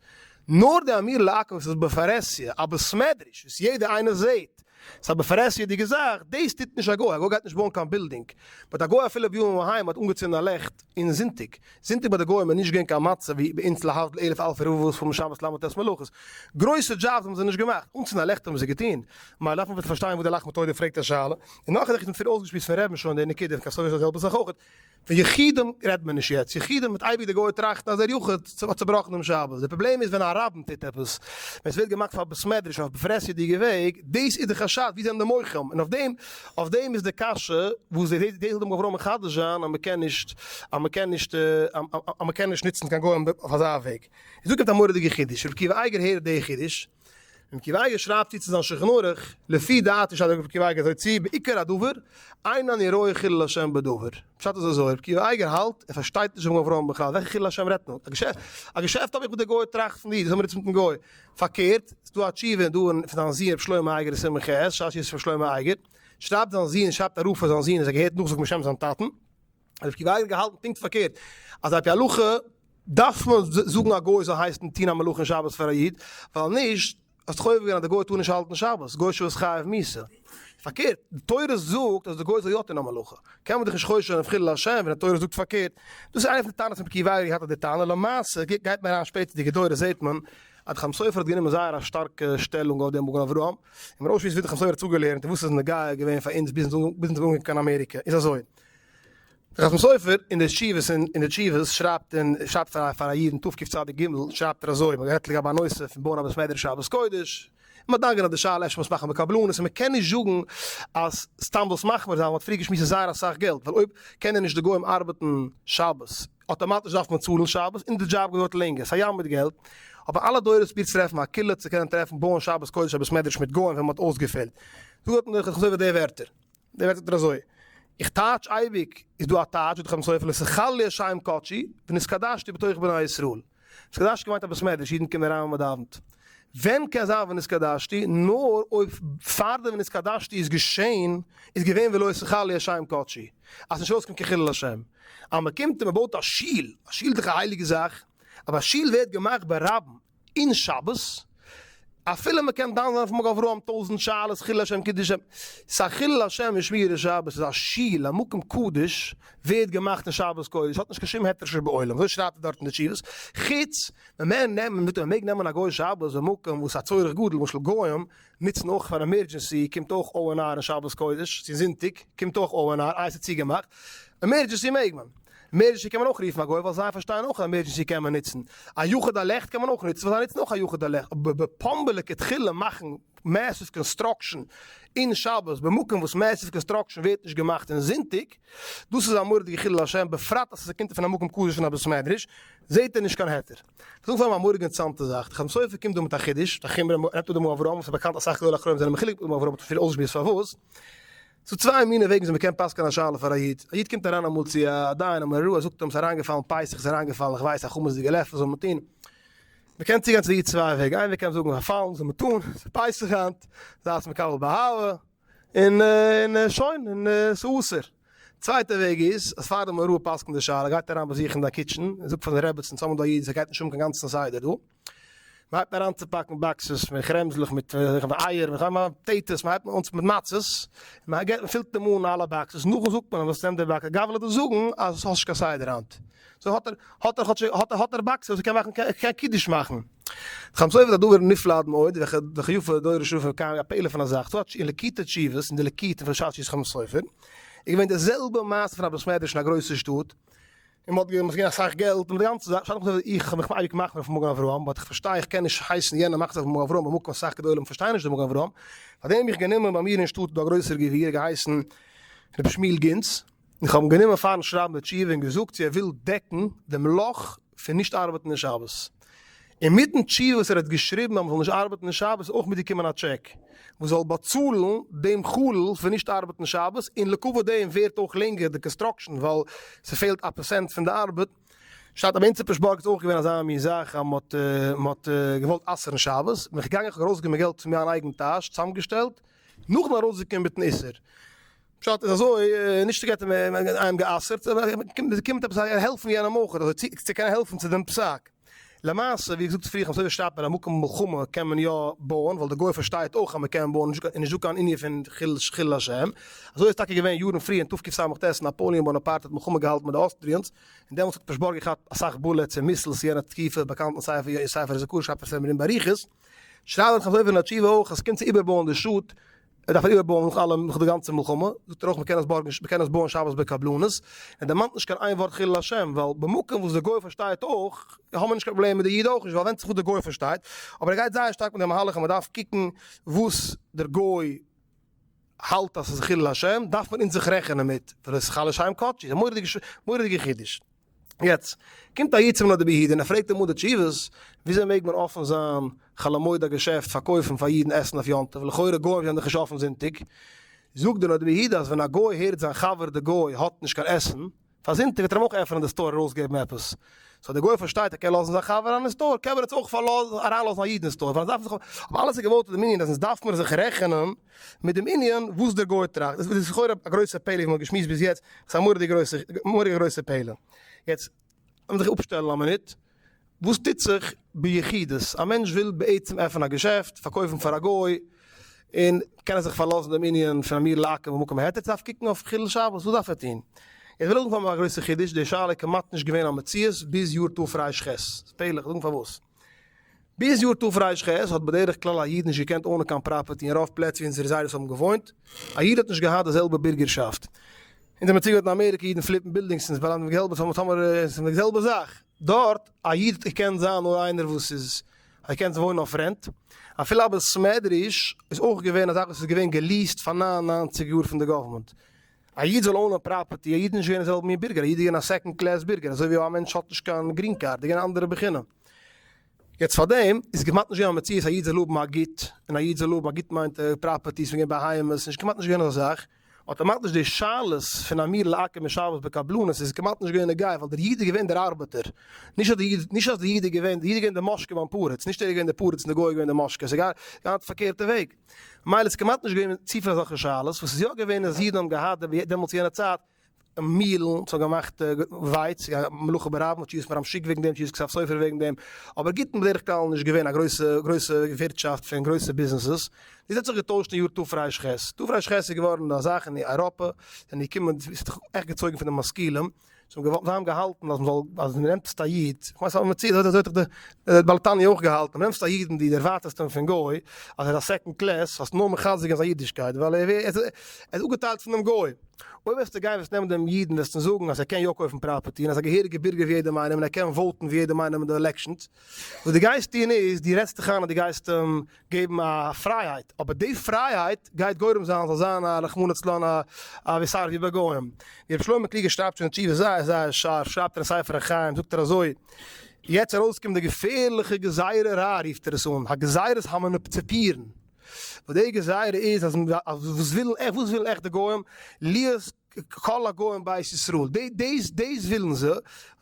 נאר די אמיר לעקם'ס איז בפרהסיא א בסמעדריש וואס יעדע איינער זעהט, ס'איז א בפרהסיה'דיגע זאך, דאס טוט נישט א גוי, א גוי גייט נישט בויען קיין בילדינג, באט א גוי אפילו ביהמ ד אהיים האט אנגעצינדן א לעכט אין זונטאג, זונטאג ביי די גוים איז נישט געווען קיין מצב ווי ביי אונז להבדל אלף אלפי רבבות פארן שבת למה ט' מלאכות, גרויסע דזשאבס האבן זיי נישט געמאכט, אנצינדן א לעכט האבן זיי געטון, מילא דארף מען ביטע פארשטיין וואס דער לחמתו ידע פרעגט א שאלה, און נאך א זאך איך האב שוין צופיל אויסגעשמועסט פון ר' משה'ן די נקודה, כ'האב סאך געזאגט די זעלבע זאך אויכעט. פון יחידים רעדט מען נישט יעצט, יחידים וועט אייביג דער גוי טראכטן אז דער יחיד האט צובראכן דעם שבת, דער פראבלעם איז ווען א רב טוט עפעס, ווען ס'ווערט געמאכט פאר בית מדרש אויף פרעסידיגע וועג, דאס איז די חשד, ווי זענען די מוחים? און אויף דעם אויף דעם איז די קשיא, וואס דאס וועט אדם גבראו מחדש זיין אז מ'קען נישט אז מ'קען נישט אז מ'קען נישט נוצן קיין גוים אויף אזא וועג, איז דא קומט א מורא'דיגע חידוש, ר' עקיבא אייגער הערט די חידוש, און קווייגער שרייבט צו צו זיין שלחן ערוך, לפי דעתי שרייבט דער רב קווייגער אזוי צו, בעיקר הדבר, אין אני רואה חילול השם בדבר. פשט איז אזוי, רב קווייגער האלט, ער פארשטייט נישט מגן אברהם בכלל, וועלכע חילול השם רעדט מען? א געשעפט האב איך מיט די גוי טראכט פון דיר, וואס האבן מיר איצט מיטן גוי? פארקערט, ס'איז דא א תשובה דא אין פון זיין זון רבי שלמה אייגער סימן ח', שש יסוד שלמה אייגער, שרייבט זיין זון, שרייבט א רב פאר זיין זון אז ער געהערט נאכזאגן בשם זיין טאטן, האט רב קיווארג געהאלטן פונקט פארקערט, אז על פי הלכה דארף מען זאגן א גוי זאל הייסן טוהן א מלאכה שבת פאר א איד, ווייל נישט האסט חובה געווען אז די גוי טאר נישט האלטן שבת, גוי שבת חייב מיתה. פארקערט, די תורה זאגט אז די גוי זאל יא טוהן א מלאכה, קען מען דאך נישט חוש'ן אויף חילול השם ווען די תורה זאגט פארקערט. דאס איז איינע פון די טענות רב קיווארג האט געהאט אויף די טענה, למעשה גייט מען אריין שפעטערדיגע דורות זעהט מען אז די חתם סופר האט גענומען זייער א שטארקע שטעלונג אויף דעם מגן אברהם, און מראשית ווי די חתם סופר האט אפגעלערנט און וואס איז נוגע געווען פאר אונז ביזן זאל אנקומען קיין אמעריקע איז אזוי. חתם סופר אין די תשובות אין די תשובות שרייבט אין שרייבט פאר א פאר א איד תקפ צ אדר ג' שרייבט ער אזוי מ'האט גערעדט לגבי א נושא פון בויען א בית מדרש שבת קודש און מ'האט דן געווען אויף די שאלה אפשר מ'מוז מאכן בקבלנות און מ'קען נישט זאגן אז סתם דאס מחמיר זיין ווייל מ'האט פריער געשמועסט זייער אסאך געלט ווייל אויב קענען נישט די גוים ארבעטן שבת אויטאמאטיש דארף מען צאלן שבת און די דזשאב געדויערט לענגער ס'א ים מיט געלט האבן אלע דורות פרובירט צו טרעפן א כלי צו קענען טרעפן בויען שבת קודש א בית מדרש מיט גוים ווען מ'האט אויסגעפעלט דא האט מען דאך חזור אויף די ווערטער דער ווערטל טוט אזוי, איך טייטש אייביג, איז דא א טייטש בדחן סופר לס' חל לי השי ם קדשי ונתקדשתי בתוך בני ישראל. נתקדשתי געמיינט א בית מדרש, אידן קומען אריין ווען מען דאווענט. ווען קען זיין ונתקדשתי? נאר אויב פאר די ונתקדשתי איז געשען איז געווען ולא ש' חל לי השי ם קדשי, אז ס'נישט אויסקומט קיין חילול השם. אז מ'קומט און מ'בויט א שול, א שול איז דאך א הייליגע זאך, אבער א שול ווערט געמאכט ברבים, אין שבת, אפילו מען קען דן זיין אויף מג אברהם טויזענט שאלות חילול השם קידוש השם, ס'איז א חילול השם אין שמירת שבת, ס'איז א שול א מקום קדוש ווערט געמאכט אין שבת קודש, האט נישט קיין שום היתר שיש בעולם, אזוי שרייבט ער דארט אין די תשובות, חוץ מ'מער נעמען מ'טאר מעג נעמען א גוי'ש שבת במקום וואס א צורך גדול למשל גוים נוצן אויך פאר עמערדזשענסי קומט אויך או ען אר אין שבת קודש צו זונטאג קומט אויך או ען אר איי ס'איז צוגעמאכט עמערדזשענסי מעג מען. מערדזשענסי קען מען אויך רופן א גוי ווייל זיי פארשטייען אויך אז מערדזשענסי קען מען נוצן, א יחוד הלכט קען מען אויך נוצן ווייל זיי נוצן אויך א יחוד הלכט, אבער בפומבליק התחילה מאכן מעסיוו קאנסטראקשען אין שבת במקום וואס מעסיוו קאנסטראקשען ווערט נישט געמאכט אין זונטאג, דאס איז א מורא'דיגע חילול השם בפרט אז עס קומט פון א מקום קדוש פון א בית מדרש, זעהט ער נישט קיין היתר. כ'זאג פאר אים א מורא'דיגע אינטערעסאנטע זאך, די חתם סופר קומט דא מיט א חידוש, די חומרא, ער נעמט אן די מגן אברהם וואס איז באקאנט אסאך גדולי אחרונים זענען מחולק מיט די מגן אברהם האט עס אפילו אויסגעשמועסט פארוואס, ס'איז צוויי מיני וועגן ווי מ'קען פסק'ען א שאלה פאר א איד. א איד קומט אריין אמאל צו א דיין אמאל א רב, ער זאגט אים ס'איז אריינגעפאלן פסח איז אריינגעפאלן איך ווייס א חמץ'דיגע לעפל וואס זאל מען טון? מ'קען צוגיין צו די איד צוויי וועגן, איין וועג קען מען זאגן פארפאלן וואס זאל מען טון? ס'איז פסח היינט, זייטס מקבל באהבה, און און שוין און ס'איז אסור. צווייטע וועג איז אז פאר די מראה פסק'נט די שאלה גייט ער אריין באזוכן די קיטשן און זאגט פאר זיין רעבעצן, ס'האמיר דא א איד וואס ער גייט נישט האבן קיין גאנצן סדר דא, מ'הייבט אריין צו פאקן באקסעס פון כרעמזלעך מיט אייער וכדו', פאטעיטאס, מ'הייבט אן מיט מצות, מ'פילט אים אן אלע באקסעס, נאכדעם זאגט מען אים וואס נעמט די באקס, גאב וויל דיר זאגן אז האסט נישט קיין סדר היינט, סאו האט ער האט ער כאטשיג האט ער באקסעס וואס ער קען מאכן קען קידוש מאכן. חמץ עוף איז א דבר נפלא עד מאוד, וכ י פון דורי שופר ק א פלא פון א זאך, ס'האט אין ליקוטי תשובות אין די ליקוט פון שאר ש ס חמץ עוף איז געווען די זעלבע מעשה פון א בית מדרש אין א גרויסע שטאט, און מ'האט געגעבן געווען אסאך געלט און די גאנצע זאך, שטייט נאך איך האב מיך אייביג געמאכט אויף מגן אברהם, באט איך פארשטיי איך קען נישט הייסן יענער מאכט זיך אויף מגן אברהם במקום אסאך גדולים פארשטייען נישט די מגן אברהם, פארדעם האב איך גענומען ביי מיר אין שטאט איז דא א גרויסער גביר געהייסן רבי שמואל גינץ, איך האב אים גענומען פארן שרייבן די תשובה און געזאגט צו ער וויל דעקן דעם לאך פון נישט ארבעטן אין שבת. אינמיטן תשובה וואס ער האט געשריבן אז מען זאל נישט ארבעטן אין שבת איז אויך מיטגעקומען א טשעק וואס זאל באצאלן דעם חלל פון נישט ארבעטן שבת און לעקאווע דעם ווערט אויך לענגער די קאנסטראקשען ווייל ס'פעלט א פערסענט פון די ארבעט. שטאט אבער אין ציפעשבורג איז אויך געווען אזא מין זאך אז מען האט געוואלט אסר'ן שבת בין איך געגאנגען כ'האב ארויסגעגעבן געלט פון מיין אייגן טאש צוזאמגעשטעלט נאכדעם ארויסגעקומען מיטן איסור. פשט איז אזוי, נישט געטען איינעם גע'אסר'ט, עס קומט עפעס א העלפן יענעם אויך, אזוי צו צו קענען העלפן צו דעם פסק. למעשה ווי געזאגט פריער, כ'האב מסתמא שטייט ביי א מקום מלחמה קען מען יא בויען, ווייל די גוי פארשטייט אויך אז מען קען בויען, איז נישט דא קיין ענין פון חילול השם. אזוי איז טאקע געווען יארן פריער אין תקפ ס, ווען נאפאליען באנאפארט האט מלחמה געהאלטן מיט די אוסטריענס, און דעמאלטס האט פרשבורג געכאפט אסאך בולעטס און מיסלס יענע תקופה, באקאנטן ספר יאיר ספר איז א קורס שרייבט עס מער אין באריכות. שרייב איך אזוי ווי אין א תשובה אויך, אז ס'קומט צו איבערבויען די שטאט, ער דארף איבערבויען נאך אלעם נאך די גאנצע מלחמה, זאגט ער אויך מ'קען עס בארגן מ'קען עס בויען שבת בקבלנות, ער דערמאנט נישט קיין איין ווארט חילול השם, ווייל במקום וואס די גוי פארשטייט אויך, האבן מיר נישט קיין פראבלעם מיט די איד אויך נישט, ווייל ווענדט זיך וואס די גוי פארשטייט, אבער ער גייט זייער שטארק מיט די מהלך אז מ'דארף קוקן וואס דער גוי האלט אז ס'איז חילול השם, דארף מען אונז זיך רעכענען מיט, ווייל עס איז חל לשם קדשו, מורא'דיגע חידוש. יעצט קומט א איד צום נדה ביהודה און ער פרעגט אים אן די תשובות, וויאזוי מעג מען אפען זיין חול המועד א געשעפט פארקויפן פאר אידן עסן אויף יום טוב, לכאורה גוים זענען דאך נישט אפען זונטאג, זאגט דער נדה ביהודה אז ווען א גוי הערט זיין חבר די גוי האט נישט קיין עסן פאר זונטאג וועט ער אים אויך עפענען די סטאר ארויסגעבן עפעס, סאו די גוי פארשטייט ער קען לאזן זיין חבר אריין אין סטאר קען מען יעצט אויך אריינלאזן א איד אין סטאר, אבער אלעס איז געבויט אויף דעם ענין אז אונז דארף מיר זיך רעכענען מיט דעם ענין וואס דער גוי טראכט, דאס איז לכאורה א גרויסע פעלער וואס מען האט געשמועסט ביז יעצט, עס איז א מורא'דיגע גרויסע מורא'דיגע גרויסע פעלער. יעצט לאמיר זיך אפשטעלן א מינוט, וואס טוט זיך ביחידות, א מענטש וויל בעצם עפענען א געשעפט, פארקויפן פאר א גוי, און קען ער זיך פארלאזן דעם ענין פון אמיר לעקל במקום העתר, צו דארף קוקן אויף חילול שבת, וואס דארף ער טון? איך וויל אנפאנגען מיט א גרויסע חידוש, די שאלה איז כמעט נישט געווען א מציאות ביז יאר תרפ ח, פלא, איך זאג פארוואס. ביז יאר תרש ח האט בדרך כלל א איד נישט געקענט אנען קיין פראפערטי אין רוב פלעצער ווי אונזערע זיידעס האבן געוואוינט, א איד האט נישט געהאט די זעלבע בירגערשאפט. אונז האבן צוגעהערט אין אמעריקע אידן פליפן בילדינגס אונז באלאנגט מיט געלט באצאלן טאמער ס'איז די זעלבע זאך דארט, א איד האט געקענט זיין נאר איינער וואס איז האט געקענט וואוינען אויף רענט, אפילו א בית מדרש איז אויך געווען א זאך וואס איז געווען געליעסט פאר נײַן און נײַנציק יאר פון די גאווערמענט, א איד זאל אוינען פראפערטי, א איד נישט ווערן זעלבע מין בירגער, א איד איז געווען א סעקאנד קלעס בירגער, אזוי ווי א מענטש האט נישט קיין גרין קארד, איז געווען א אנדערע בחינה. יעצט פאר דעם איז כמעט נישט געווען א מציאות א איד זאל האבן א גוט, און א איד זאל האבן א גוט מיינט פראפערטיס וועגן בהמות, נישט כמעט נישט געווען אזא זאך, אטאמאטיש די שאלות פון אמיר לעקם און שבת בקבלנות איז כמעט נישט געווען נוגע, ווייל דער איד איז געווען דער ארבעטער, נישט אז די איד, נישט אז די איד איז געווען, די איד איז געווען די משקה ביים פרדס, נישט ער איז געווען די פרדס און די גוי איז געווען די משקה, ס'איז געהאט די פארקערטע וועג. ממילא איז כמעט נישט געווען צופיל אזעלכע שאלות, וואס איז יא געווען אז אידן האבן געהאט דעמאלטס יענע צייט מילן, זיי האבן געמאכט ווייץ, יא מלאכה ברבים האט שיעור'ס פאר'ן משוק וועגן דעם, שיעור'ס כסף סופר וועגן דעם, אבער ג-ט איז בדרך כלל נישט געווען א גרויסע גרויסע ווירטשאפט פון גרויסע ביזנעסעס, דאס האט זיך געטוישט אין יאר תרש ח, תרש ח איז געווארן א זאך אין אייראפע, זענען געקומען, ס'האט זיך עכט געצויגן פון די משכילים, זיי האבן געוואלט, זיי האבן געהאלטן אז מ'זאל, אז מ'נעמט א איד, איך ווייס אז מ'ציעט, אזוי האט זיך דער בעל תניא אויך געהאלטן, מ'נעמט א איד און דו דערווארטעסט אים פון גוי, אז ער איז א סעקאנד קלעס, האסט נאר מחזק געווען זיין אידישקייט, ווייל ער איז אפגעטיילט פונעם גוי. אויב וועסטו גיין וועסט נעמען דעם איד און וועסט אים זאגן אז ער קען יא קויפן פראפערטי און אז ער איז א געהעריגע בירגער ווי יעדעם איינעם און ער קען וואוטן ווי יעדעם איינעם אין די עלעקשאנס, וואס דו גייסט טון איז, דו רעדסט דיך איין אז דו גייסט אים געבן א פרייהייט, אבער די פרייהייט גייט גורם זיין אז זאל זיין א רחמנא לצלן א ויסער ווי ביי גוים. ווי רבי שלמה קלוגער שרייבט שוין אין תשובה זייער זייער שארף, שרייבט ער אין ספר החיים זאגט ער אזוי, יעצט ארויסקומט די געפערליכע גזירה רעה רופט ער עס אן, הגזירת המנופציפירן, וואס די גזירה איז אז וואס ווילן עכט די גוים? להיות כל הגוים בית ישראל, די דעיס דעיס ווילן זיי,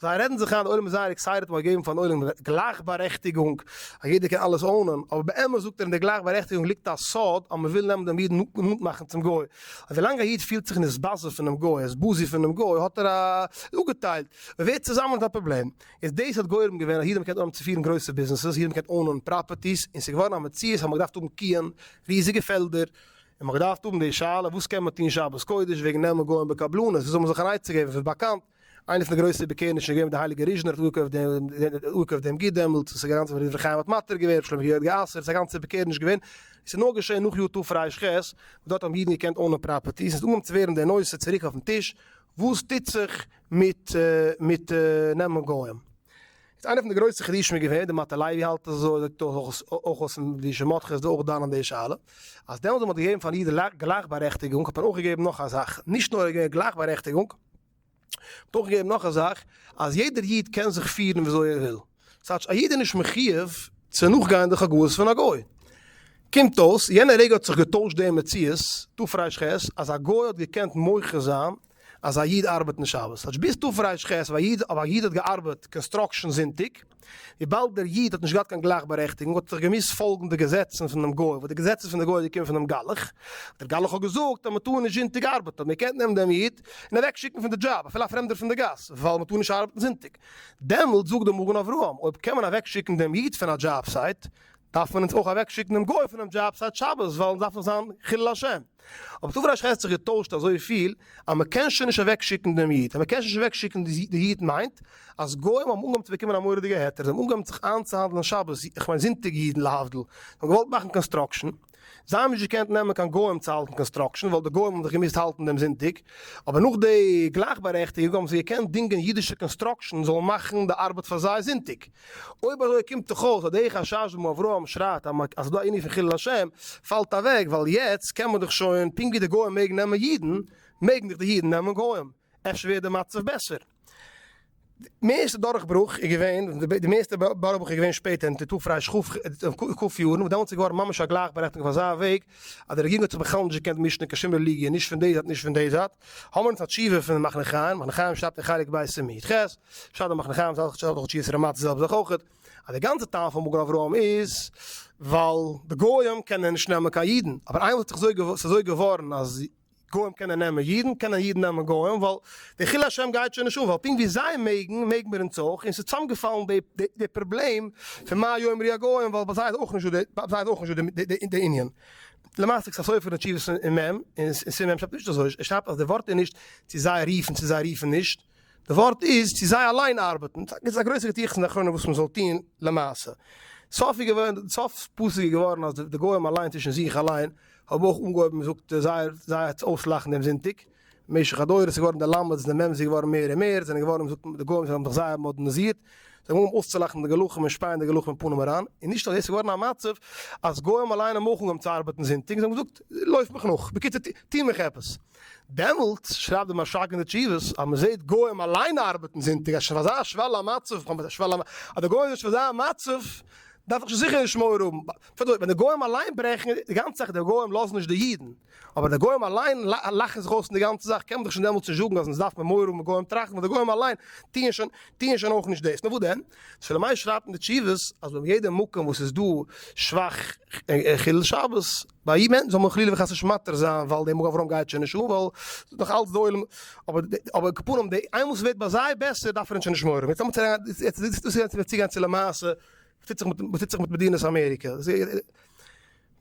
זיי רעדן זיך איין די עולם איז זייער עקסייטעט מ'האט געגעבן פארן עולם גלייכבארעכטיגונג אז יעדער קען אלעס אוינען, אבער באמת זאגט ער אין די גלייכבארעכטיגונג ליגט א סוד אז מ'וויל נעמען דעם איד און נאנט מאכן צום גוי, און ווילאנג א איד פילט זיך נישט בייז פונעם גוי ער איז בוזי פונעם גוי האט ער אפגעטיילט, מ'ווערט צוזאמען נישט א פראבלעם, איז דעיס האט גורם געווען אז יעדער האט געקענט אנהויבן צו פירן גרויסע ביזנעסעס, יעדער האט געקענט אוינען פראפערטיס, און ס'איז געווארן א מציאות אז מ'האט געדארפט האבן קיען, ריזיגע פעלדער, און מ'האט געדארפט האבן די שאלה וואס קען מען טון שבת קודש וועגן נעמען גוים בקבלנות, ווי זאל מען זיך אן עצה געבן, ס'איז באקאנט, איינער פון די גרויסע בעקערנישן איז געווען מיט די הייליגע ריזשנער האט אפגעקויפט די אפגעקויפט דעם ג-ט דעמאלטס וואס איז גאנץ רבי דברי חיים האט מתיר געווען רבי שלמה געהערט גע'אסר'ט, ס'איז א גאנצע בעקערניש געווען, עס איז נאר געשען נאך יו ט תרפ ח, וואס דארט האבן אידן געקענט אונען פראפערטיס, איז אנגעקומען צו ווערן די נושא צוריק אויפן טיש, וואס טוט זיך מיט מיט נעמען גוים? איז איינער פון די גרויסע חידושים איז געווען, דער מאטע לייבי האלט אזוי, ער זאגט אויך אויס און די שמאטכע איז דא אויך דן אין די שאלה, אז דעמאלטס ווען מ'האט געגעבן פאר אידן גלייכבארעכטיגונג האט מען אויך געגעבן נאך א זאך, נישט נאר געגעבן גלייכבארעכטיגונג, מ'האט אויך געגעבן נאך א זאך, אז יעדער איד קען זיך פירן וויאזוי ער וויל. ס'הייטש א איד איז נישט מחויב צו נאכגיין די חגאות פון א גוי. קומט אויס, יענע רגע האט זיך געטוישט די מציאות, תרפ ח, אז א גוי האט געקענט מוחה זיין, אז א איד ארבעט נישט שבת, כאטש ביסטו פריי שכ ס, אבער א איד האט געארבעט קאנסטראקשען זונטאג, וויבאלד דער איד האט נישט געהאט קיין גלייכבארעכטיגונג האט זיך געמוזט פאלגן די געזעצן פון דעם גוי, וואס די געזעצן פון די גוי האט געקומען פון דעם גלח, דער גלח האט געזאגט אז מען טאר נישט זונטאג ארבעטען, מען קען נעמען דעם איד און אוועק שיקן פון די דזשאב, אפילו א פרעמדער פון די גאס, וויבאלד מען טאר נישט ארבעטען זונטאג. דעמאלט זאגט דער מגן אברהם, אויב קען מען אוועק שיקן דעם איד פון א דזשאב סייט, דארף מען אונז אויך אוועק שיקן דעם גוי פון דעם דזשאב סייט שבת, ווייל אונז דארף נישט זיין חילול השם. אבער דא פארשטייט זיך האט זיך געטוישט אזויפיל אז מען קען שוין נישט אוועקשיקן דעם איד, אז מען קען שוין נישט אוועקשיקן די איד מיינט אז גוים האבן אנגעהויבן צו באקומען א מורא'דיגע היתר, זיי האבן אנגעהויבן זיך איינצוהאנדלען שבת, איך מיין זונטאג אידן להבדיל, זיי האבן געוואלט מאכן קאנסטראקשען, זיי האבן נישט געקענט נעמען קיין גוים צו האלטן קאנסטראקשען ווייל די גוים האבן זיך געמוזט האלטן דעם זונטאג, אבער נאך די גלייכבארעכטיגונג האבן זיי געקענט דינגען אידישע קאנסטראקשען זאלן מאכן די ארבעט פאר זיי זונטאג. אויב אזוי קומט דאך אויס אז די חשש וואס אברהם שרייט אז ס'איז דא א ענין פון חילול השם פאלט אוועק ווייל יעצט קען מען דאך שוין פונקט ווי די גוים מעגן נעמען אידן מעגן דאך די אידן נעמען גוים אפשר ווערט די מצב בעסער. די מערסטע דורכברוך איז געווען די מערסטע דורכברוך איז געווען שפעטער אין תתפרש ק י יארן וואס דעמאלטס איז געווארן ממש א גלייכבארעכטיגונג אויף אזא וועג אז די רעגירונג האט זיך בכלל נישט געקענט מישן אין קיין שום רעליגיע נישט פון די זייט נישט פון די זייט, האבן מיר אונז א תשובה פון מחנה חיים, מחנה חיים שרייבט אין חלק ב' סימן י ח, שרייבט דער מחנה חיים זצ ל דורך תשובת רמא צ זעלבסט זאך אויך, אז די גאנצע טעם פון מגן אברהם איז ווייל די גויים קענען נישט נעמען קיין אידן, אבער איינמאל ס'איז אזוי געווארן אז. גוים קענען נעמען אידן, קענען אידן נעמען גוים, ווייל די חילול השם גייט שוין נישט אן, ווייל פונקט ווי זיי מעגן, מעגן מיר אונז אויך, און ס'איז צוזאמגעפאלן די די די פראבלעם פון מה יאמרו הגוים, ווייל ביי זיי איז אויך נישטא די, ביי זיי איז אויך נישטא די די די ענין. למעשה כסא סופר אין תשובות אין מ, אין סימן מ שרייבט נישט אזוי, ער שרייבט אז די ווארט איז נישט צו זיי רופן צו זיי רופן נישט, די ווארט איז צו זיי אליין ארבעטן, טאקע איז עס א גרויסע געטיכטס אין די אחרונים וואס מען זאל טון למעשה. סוף איז געווען, סוף פסוק איז געווארן אז די גוים אליין צווישן זיך אליין האבן אויך אנגעהויבן מען זאגט זייער זייער צו אויסלאכן דעם זונטאג, משך הדורות איז געווארן די למד'ס די מם'ס איז געווארן מער און מער, זענען געווארן זאגט מען די גוים זיי האבן זיך זייער מאדערנעזירט, זיי האבן אנגעהויבן אויסצולאכן די גלחים און שפייען די גלחים אין פנים אריין, און נישט נאר דאס איז געווארן א מצב אז גוים אליין האבן אויך אנגעהויבן צו ארבעטן זונטאג, זיי האבן געזאגט לויף מיך נאך, בקיצור טו מיך עפעס. דעמאלטס שרייבט דער משא כ אין די תשובות אז מען זעט גוים אליין ארבעטן זונטאג אז שוין פאר אזא שוועל א מצב, כ'מיין א שוועל א מצב, אז די גוים זענען שוין אזא מצב דארף איך שוין זיכער נישט מורא האבן, פארט אזוי ווען די גוים אליין ברעכן די גאנצע זאך די גוים לאזן נישט די אידן אבער די גוים אליין לאכן זיך אויס אין די גאנצע זאך קען מען דאך שוין דעמאלטס נישט זאגן אז אונז דארף מען מורא האבן גוים טראכטן ווייל די גוים אליין טוען שוין טוען שוין אויך נישט דאס נאר וואס דען שלום מאיר שרייבט אין די תשובות אז ביים יעדע מקום וואס איז דא שוואך חילול שבת ביי אידן זאל מען חלילה וחס נישט מתיר זיין ווייל די מג אברהם גייט שוין נישט אן ווייל ס'איז נאך אלץ די עולם אבער כפנים די איינמאל ס'ווערט ביי זיי בעסער דארף ער ענדערש נישט מורא ווען ס'קומט צו למעשה וואס טוט זיך מיט מדינת אמעריקע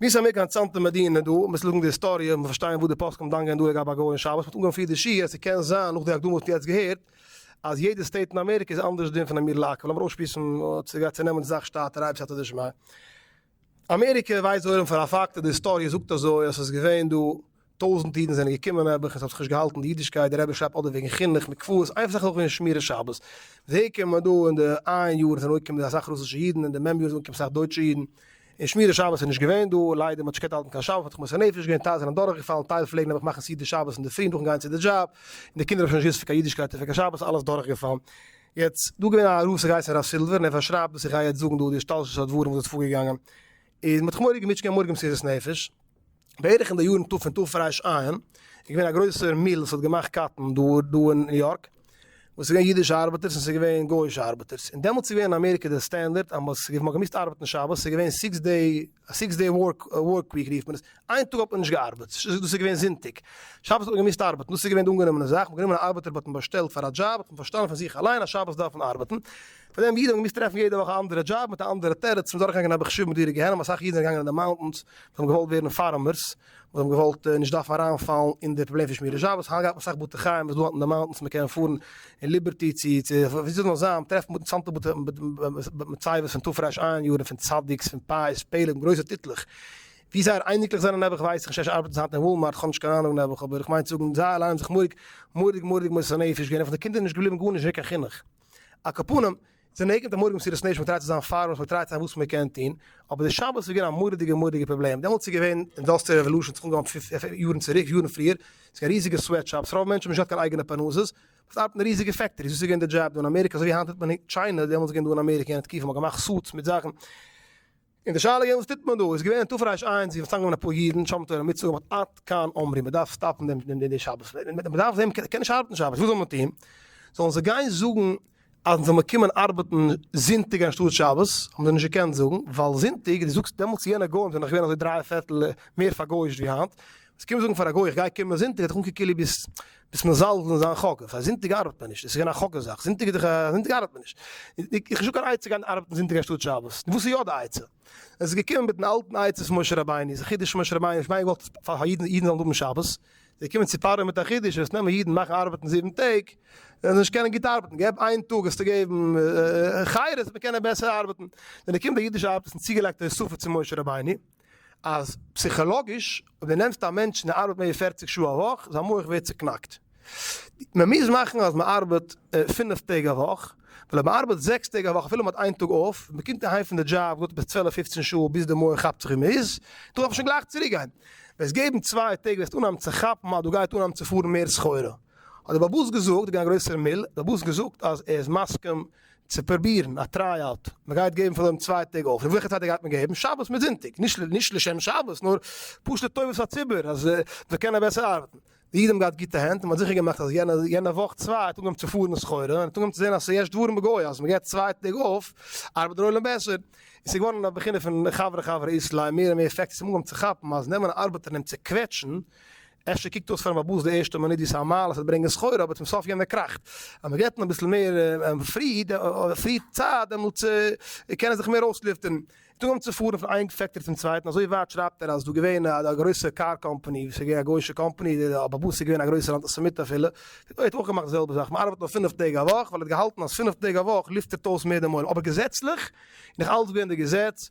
מיר זענען אמעריקע א צאנזער מדינה דא מ'מוז ליינען די היסטאריע און פארשטיין וואס די פוסקים דן גייען דא לגבי א גוי און שבת מ'האט אנגעהויבן פיר די שיעור אז ס'קען זיין נאך די הקדמה וואס מ'האט יעצט געהערט אז יעדע סטעיט אין אמעריקע איז אנדערש דין פון אמיר לעקל לאמיר אויסשמועסן צו נעמען די זאך שטאטער אייביג סייעתא דשמיא. אמעריקע ווייסט זויער און פאר א פאקט און די היסטאריע זאגט אזוי אז ס'איז געווען דא טויזענט אידן זענען געקומען נעבעך און ס'האט זיך נישט געהאלטן די אידישקייט די רבי שרייבט אדער וועגן חינוך מקוואות איינס נאך וועגן שמירת שבת ווער קומען דא אין די איין יאר זענען אנגעקומען אסאך רוסישע אידן אין די מ' יאר זענען אנגעקומען אסאך דויטשע אידן און שמירת שבת איז נישט געווען דא ליידער מ'האט נישט געקענט האלטן קיין שבת מ'האט זיך מוסר נפש געווען טייל זענען דורכגעפאלן טייל פלעגן נעבעך מאכן סעודת שבת אינדערפרי נאכן גיין צו די דזשאב און די קינדער האבן שוין נישט געוואוסט פון קיין אידישקייט און פון קיין שבת אלעס דורכגעפאלן. יעצט, דא איז געווען א רב ס'גייט הרב סילווער און ער פארשרייבט וואס איך גיי יעצט זאגן דא די השתלשלות הדברים וואס איז פארגעגאנגען איז מ'האט זיך מורא'דיג געמוטשט קיין מורג מסירות נפש בערך אין די יארן תפ ו תפ רש א איז געווען א גרויסער מיל וואס האט געמאכט קאטן דא דא אין ניו יארק וואס איז געווען אידישע ארבעטערס און ס'איז געווען גויאישע ארבעטערס און דעמאלטס איז געווען אין אמעריקע די סטענדערט אז מ'האט געמאכט ארבעטן שבת ס'איז געווען סיקס דעי א סיקס דעי ווארק וויק רופט מען עס, איין טאג האט מען נישט געארבעט, דאס איז געווען זונטאג, שבת האט מען געמוזט ארבעטן, דאס איז געווען די אנגענומענע זאך, מ'האט גענומען א ארבעטער וואס האט מען באשטעלט פאר א דזשאב, האט מען פארשטאנען פון זיך אליין אז שבת דארף מען ארבעטן, פאר דעם אידן האבן געמוזט טרעפן יעדע וואך א אנדערע דזשאב מיט א אנדערע תירוץ, מ'איז אדורכגעגאנגען אביך שוב מדורי גיהנום, אסאך אידן זענען געגאנגען אין די מאונטענס, זיי האבן געוואלט ווערן פארמערס, וואס האבן געוואלט נישט דארפן אריינפאלן אין די פראבלעם פון שמירת שבת, היינט גייט מען אסאך בתי חיים וואס דא אט אין די מאונטענס, מען קען פארן אין ליבערטי צו ווי ס'זאל זיין, טרעפן בתי צאנזע בתי מצבות פון תרפ א אין יארן, פון צדיק'ס, פון פאי'ס, פעלער, גרויסע טיטלעך. ווי זייער אייניקלעך זענען נעבעך ווייס איך נישט, אפשר ארבעטן זיי היינט אין וואלמארט, כ'האב נישט קיין אהנונג נעבעך, אבער איך מיין צו זאגן זיי אליין האבן זיך מורא'דיג מורא'דיג מורא'דיג מוסר נפש געווען, און פון די קינדער איז נישט געבליבן גארנישט, נישט געווען קיין חינוך. על כל פנים, זיי ניגון דעם מורג מסירת נפש, מ'טרייט צו זיין פאראויס, מ'טרייט צו זיין וואס מ'קען טון, אבער די שבת איז געווען א מורא'דיגע מורא'דיגע פראבלעם, דעמאלטס איז געווען אינדאסטריעל רעוואלושען האט זיך אנגעהויבן יארן צוריק, יארן פריער, ס'איז געווען ריזיגע סוועט שאפס, רוב מענטשן האבן נישט געהאט קיין אייגענע פרנסות, מ'דארף ארבעטן אין ריזיגע פעקטאריס, דאס איז געווען די דזשאב דא אין אמעריקע, אזוי ווי היינט טוט מען אין טשיינע, דעמאלטס איז געווען דא אין אמעריקע, אין א תקופה, מ'האט געמאכט סוטס מיט זאכן, און די שאלה געווען וואס טוט מען דא, איז געווען אין תרפ ר איינס ווי מ'האט צוזאמגענומען אפאר אידן, שם תורה מיט צו געמאכט עד כאן אמרי, מ'דארף סטאפן דעם דעם דעם שבת, מ'דארף זיי מ'קען נישט ארבעטן שבת, וואס זאל מען טון? זאלן זיי גיין זאגן אז מ'זאל מיר קומען ארבעטן זונטאג אנשטאט שבת, האבן זיי נישט געקענט זאגן, ווייל זונטאג, דו זאגסט דעמאלטס יענע גוים זענען נאך געווען אזוי דריי פערטל מער פארגויאישט ווי היינט, עס קומט זאגן פאר א גוי איך גיי קומען זונטאג האט ער אנגעקוקט כאילו ביסט ביסט מזלזל אין זיין חק א זונטאג ארבעט מען נישט עס איז געווען א חק א זאך זונטאג איז דאך א זונטאג ארבעט מען נישט איך האב נישט קיין עצה גיין ארבעטן זונטאג אנשטאט שבת וואס איז יא די עצה עס איז געקומען מיטן אלטן עצת משה רבינו איז א חידוש משה רבינו נישט מיין געוואלט פאר אידן אידן זאלן האבן שבת זיי קומען צו פרעה מיט א חידוש וועסט נעמען אידן מאכן ארבעטן זיבן טעג וועלן זיי נישט קענען גוט ארבעטן געב איין טאג וועסטו געבן חיות מען קען בעסער ארבעטן ווען ער קומט דער אידישער ארבעט איז צוגעלייגט די ספה צו משה רבינו אז פסיכאלאגיש אויב די נעמסט א מענטש און ער ארבעט מער ווי פֿערציק שעה א וואך זיין מח ווערט צוקנאקט, מען מוז מאכן אז מען ארבעט פֿינף טעג א וואך, ווייל אויב מען ארבעט זעקס טעג א וואך אפילו מען האט איין טאג אויף, מען קומט אהיים פון די דזשאב געהאט עפעס צוועלף פופצן שעה ביז די מח כאפט זיך ווי מען איז, דארף מען שוין גלייך צוריק גיין, וועסט געבן צוויי טעג וועסטו אנהייבן צו כאפן אז דא גייט אנהייבן צו פארן מער סחורה, האט דער בעל הבית געזאגט, דער גרויסער מיל, דער בעל הבית געזאגט אז ער איז מסכים צו פרובירן א טריי אוט, מען גייט געבן פון דעם צוויי טעג אויך, וועלכע צייט גייט מען געבן? שבת מיט זונטאג, נישט לשם שבת נאר פשוט לטובת הציבור אז זיי קענען בעסער ארבעטן, די איד האבן געהאט גוטע הענט און מען האט זיכער געמאכט אז יענע יענע וואך צוויי האט אנגעהויבן צו פארן מיט סחורה און האט אנגעהויבן צו זען אז ס'יש דברים בגוי אז מען געבט צוויי טעג אויף ארבעט דער עולם בעסער, און ס'איז געווארן א בחינה פון חברה חברה איסלאי מער און מער פעקטס האבן אנגעהויבן צו כאפן אז נעמען א ארבעטער און אים צו קוועטשן אפשר קוקט אויס פארן באבוס די ערשטע מינוט ווי ס'איז א מעלה ס'וועט ברענגען שכר אבער צום סוף יענער קראכט אז מען געבט אים אביסל מער פרי פרי צייט דעמאלטס קען ער זיך מער אויסלופטערן און טאמער צו פארן פון איין פעקטארי צום צווייטן אזוי ווייט שרייבט ער אז ס'דא געווען א גרויסע קאר קאמפאני וואס איז געווען א גוישע קאמפאני די באבוס איז געווען א גרויסער אנטיסעמיט אפילו דארט האט אויך געמאכט די זעלבע זאך מען ארבעט נאר פֿינף טעג א וואך ווייל ער האט געהאלטן אז פֿינף טעג א וואך לופטערט אויס מער די מויל אבער געזעצליך איז נאך אלץ געווען די געזעץ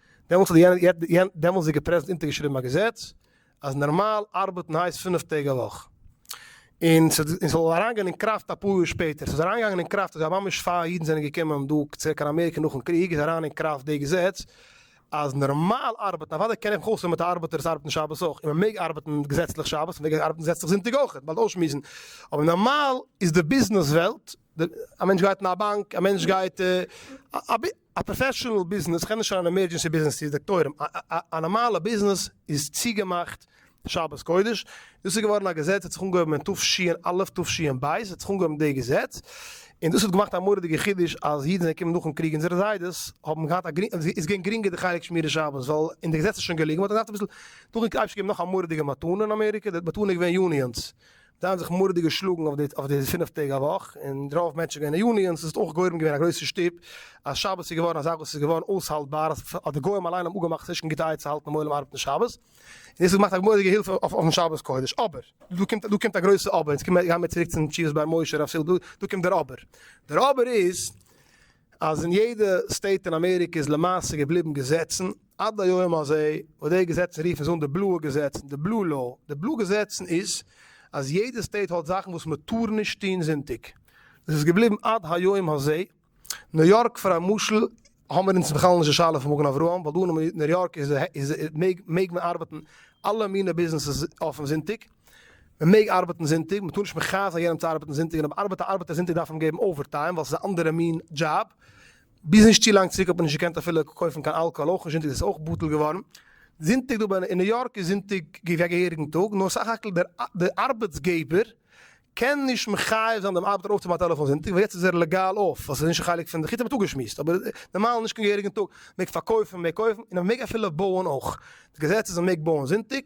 דעמאלס האט די דעמאלסדיגע פרעזידענט אונטערגעשריבן א געזעץ אז נארמאל ארבעטן הייסט פינף טעג א וואך, און ס'זאל אריינגיין אין קראפט אפאר יאר שפעטער. ס'איז אריינגעגאנגען אין קראפט אזוי אז ממש פאר אידן זענען געקומען דא צוריק קיין אמעריקע נאכן קריג איז אריין אין קראפט די געזעץ אז נארמאל ארבעטן, אוודאי קען איך מיך אויס אויב מ'האט א ארבעטער וואס ארבעט אין שבת אויך, און מ'מעג ארבעטן געזעצליך שבת און מ'מעג ארבעטן געזעצליך זונטאג אויך, באלד אויסשמועסן, אבער נארמאל איז די ביזנעס וועלט, א מענטש גייט אין א באנק, א מענטש גייט א. א פראפעשענעל ביזנעס קען נישט זיין אן עמערדזשענסי ביזנעס צו דאקטוירים, א נארמאלע ביזנעס איז צוגעמאכט שבת קודש, דאס איז געווארן א געזעץ האט זיך אנגעהויבן אין תשנ א, תשנ ב האט זיך אנגעהויבן די געזעץ, און דאס האט געמאכט א מורא'דיגע חידוש אז אידן זענען געקומען נאכן קריג, אונזערע זיידעס האבן געהאט א גרינג, עס איז געווען גרינגער די חלק שמירת שבת ווייל אין די געזעץ איז שוין געליגן, מען האט געדארפט אביסל, דאן האט אייביג געגעבן נאך א מורא'דיגע מתנה אין אמעריקע, די מתנה איז געווען יוניאנס, זיי האבן זיך מורא'דיג געשלאגן אויף די פינף טעג א וואך, און רוב מענטשן גייען אין יוניאנס, עס האט אויך גורם געווען א גרויסע שטופ, אז שבת איז געווארן א זאך וואס איז געווארן אויסהאלטבאר, אז אז די גוים אליין האבן אפגעמאכט ס'נישט קיין גוטע עצה האלטן דעם עולם ארבעטן שבת, און דאס האט געמאכט א מורא'דיגע הילף אויפן שבת קודש, אבער, דא קומט דא קומט א גרויסע אבער, און יעצט גייען מיר צוריק צום תשובת באר משה רב סילבער, דא קומט דער אבער, דער אבער איז אז אין יעדע סטעיט אין אמעריקע איז למעשה געבליבן געזעצן עד היום הזה, וואס די געזעצן רופן זיי אן די בלויע געזעצן, די בלו לאו, די בלו געזעצן איז אז יעדע סטעיט האט זאכן וואס מען טאר נישט טון זונטאג, דאס איז געבליבן עד היום הזה, ניו יארק פאר א משל האמער אונז בכלל נישט די שאלה פון מגן אברהם, ווייל דא אין ניו יארק איז מעג מען ארבעטן אלע מיני ביזנעסעס אויפן זונטאג. מען מעג ארבעטן זונטאג, מען טאר נישט מכעיס זיין יענעם צו ארבעטן זונטאג, און אויב ארבעט א ארבעטער זונטאג דארף מען אים געבן אווער טיים ווייל ס'איז א אנדערע מין דזשאב, ביז נישט צו לאנג צוריק האט מען נישט געקענט אפילו קויפן קיין אלקאהאל אויך נישט, זונטאג איז עס אויך בטל געווארן, זונטאג דא אין ניו יארק איז זונטאג א געהעריגן טאג, נאר סך הכל די ארבעטס געבער קען נישט מחייב זיין דעם ארבעטער אויפצומאכן א טעלעפאן זונטאג ווייל יעצט איז ער לעגאל אויף ווייל ס'איז נישט א חלק פון די כיתה מ'האט אפגעשמועסט אבער נארמאל נישט קיין געהעריגן טאג מ'מעג פארקויפן מ'מעג קויפן און מ'מעג אפילו בויען אויך די געזעץ איז מ'מעג בויען זונטאג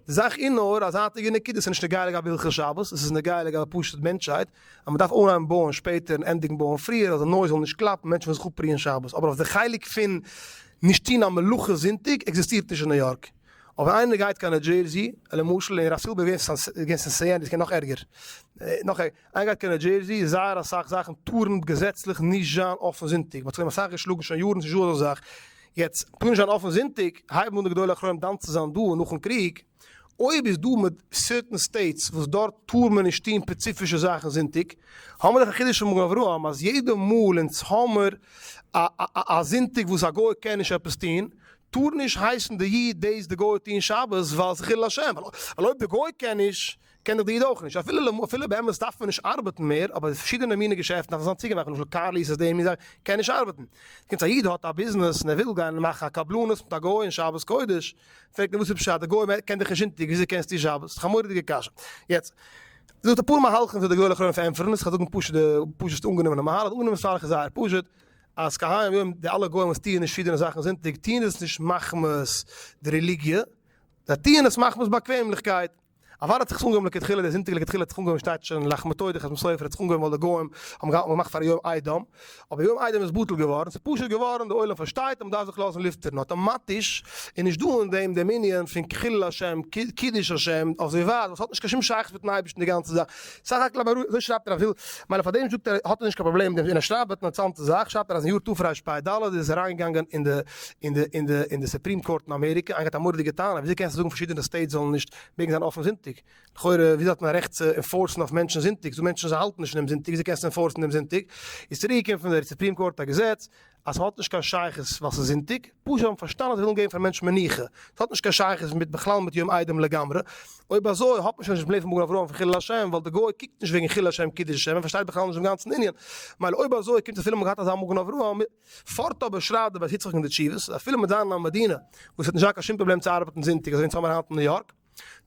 די זאך איז נאר א זייטיגע נקודה ס'איז נישט נוגע לגבי הלכות שבת עס איז נוגע לגבי פשוט מענטשהייט אז מ'דארף אנהייבן בויען שפעטער און ענדיגן בויען פריער אז די נויז זאל נישט קלאפן מענטשן וועלן זיך אפרוען שבת אבער אויף די חלק פון נישט טון א מלאכה זונטאג עקזיסטירט נישט אין ניו יארק. אויב איינער גייט קיין ניו דזשערזי, למשל, און רב סילבער איז געווען סענסעי און דאס קען נאך ערגער, נאך ערגער, איינער גייט קיין ניו דזשערזי, זייער אסאך זאכן טארן געזעצליך נישט זיין אפן זונטאג, מ'האט זיך דעם אסאך געשלאגן שוין יארן צו זשאזא זאך, יעצט, טאר נישט זיין אפן זונטאג, הייבן אן די גדולי אחרונים דן צו זיין דא נאכן קריג, אויב איז דא מיט סערטען סטעיטס וואס דארט טאר מען נישט טון פעציפישע זאכן זונטאג, האמער דאך א חידוש פון מגן אברהם אז יעדע מאל אונז האמער א זונטאג וואס א גוי קען נישט עפעס טון, טאר נישט הייסן די איד דאס די גוי האט אהן שבת ווייל ס'איז חילול השם, ווייל אויב די גוי קען נישט קען דאך די איד אויך נישט, אפילו באמת דארף מען נישט ארבעטן מער אבער פארשידענע מינע געשעפטן דארף מען זיין צוגעמאכט למשל קארליס איז דעם און קען נישט ארבעטן קומט א איד האט א ביזנעס און ער וויל גיין מאכן א קבלנות מיט א גוי און שבת קודש פרעגט מען וואס איז פשט די גוי קען דיך נישט זונטאג וויאזוי קענסטו שבת ס'דאך א מורא'דיגע קשיא יעצט זאגט אפאר מהלכים ווי די גוי האט גענומען פאר ענטפערן עס כ'וועל זאגן פשוט די פשוט'סטע אנגענומענע מהלך די אנגענומענע מהלך איז זייער פשוט אז כהיום די אלע גוים וואס טוען נישט פידערן זאכן זונטאג טוען עס נישט מחמת די רעליגיע, זיי טוען עס מחמת באקוועמליכקייט. אוואדע האט זיך עס אנגעהויבן לכתחילה, די זונטאג לכתחילה האט זיך אנגעהויבן שטייט שוין אין לחמא טוי די חתם סופר האט זיך אנגעהויבן ווייל די גוים האבן געהאלטן מ'מאכט פאר יום איידעם, אבער יום איידעם איז בטל געווארן, ס'איז פשוט געווארן די עולם פארשטייט אז מ'דארף זיך לאזן לופטערן אטאמאטיש, איז נישט דא אין דעם דעם ענין פון חילול השם, קידוש השם, אויף זיי ווייז וואס האט נישט קיין שום שייכות מיטן אייבערשטן די גאנצע זאך. סך הכל אבער אזוי שרייבט ער אז וויל מיילער פאר דעם זאגט ער האט ער נישט קיין פראבלעם מיט דעם און ער שרייבט באט אינטערסאנטע זאך שרייבט ער אז אין יאר תרפ ב ד איז עס אריינגעגאנגען אין די אין די אין די אין די סופרים קאורט אין אמעריקע איינגעהאט א מורא'דיגע טענה וויאזוי קענסטו זאגן פארשידענע סטעיטס זאלן נישט מעגן זיין אפן זונטאג לכאורה וויאזוי האט מען א רעכט צו אינפארסן אויף מענטשן זונטאג ס'דא מענטשן וואס האלטן נישט פון דעם זונטאג וויאזוי קענסטו אינפארסן דעם זונטאג איז צוריקגעקומען פון די סופרים קאורט א געזעץ אז ס'האט נישט קיין שייכות ווייל ס'איז זונטאג, פשוט זיי האבן פארשטאנען אז זיי ווילן געבן פארן מענטש מנוחה, ס'האט נישט קיין שייכות מיט בכלל מיט יום איידעם לגמרי, אויב אזוי האט מען שוין נישט בלעם פון מגן אברהם פון חילול השם, ווייל די גוי קוקט נישט וועגן חילול השם קידוש השם, ער פארשטייט בכלל נישט דעם גאנצן ענין, מילא אויב אזוי קומט אפילו מ'האט געהאט אזא מגן אברהם, פארט אבער שרייבט דער בית יצחק אין די תשובות, אפילו מיט זיין א מדינה וואס האט נישט געהאט קיין שום פראבלעם צו ארבעטן זונטאג אזוי ווי אונז האמיר היינט אין ניו יארק,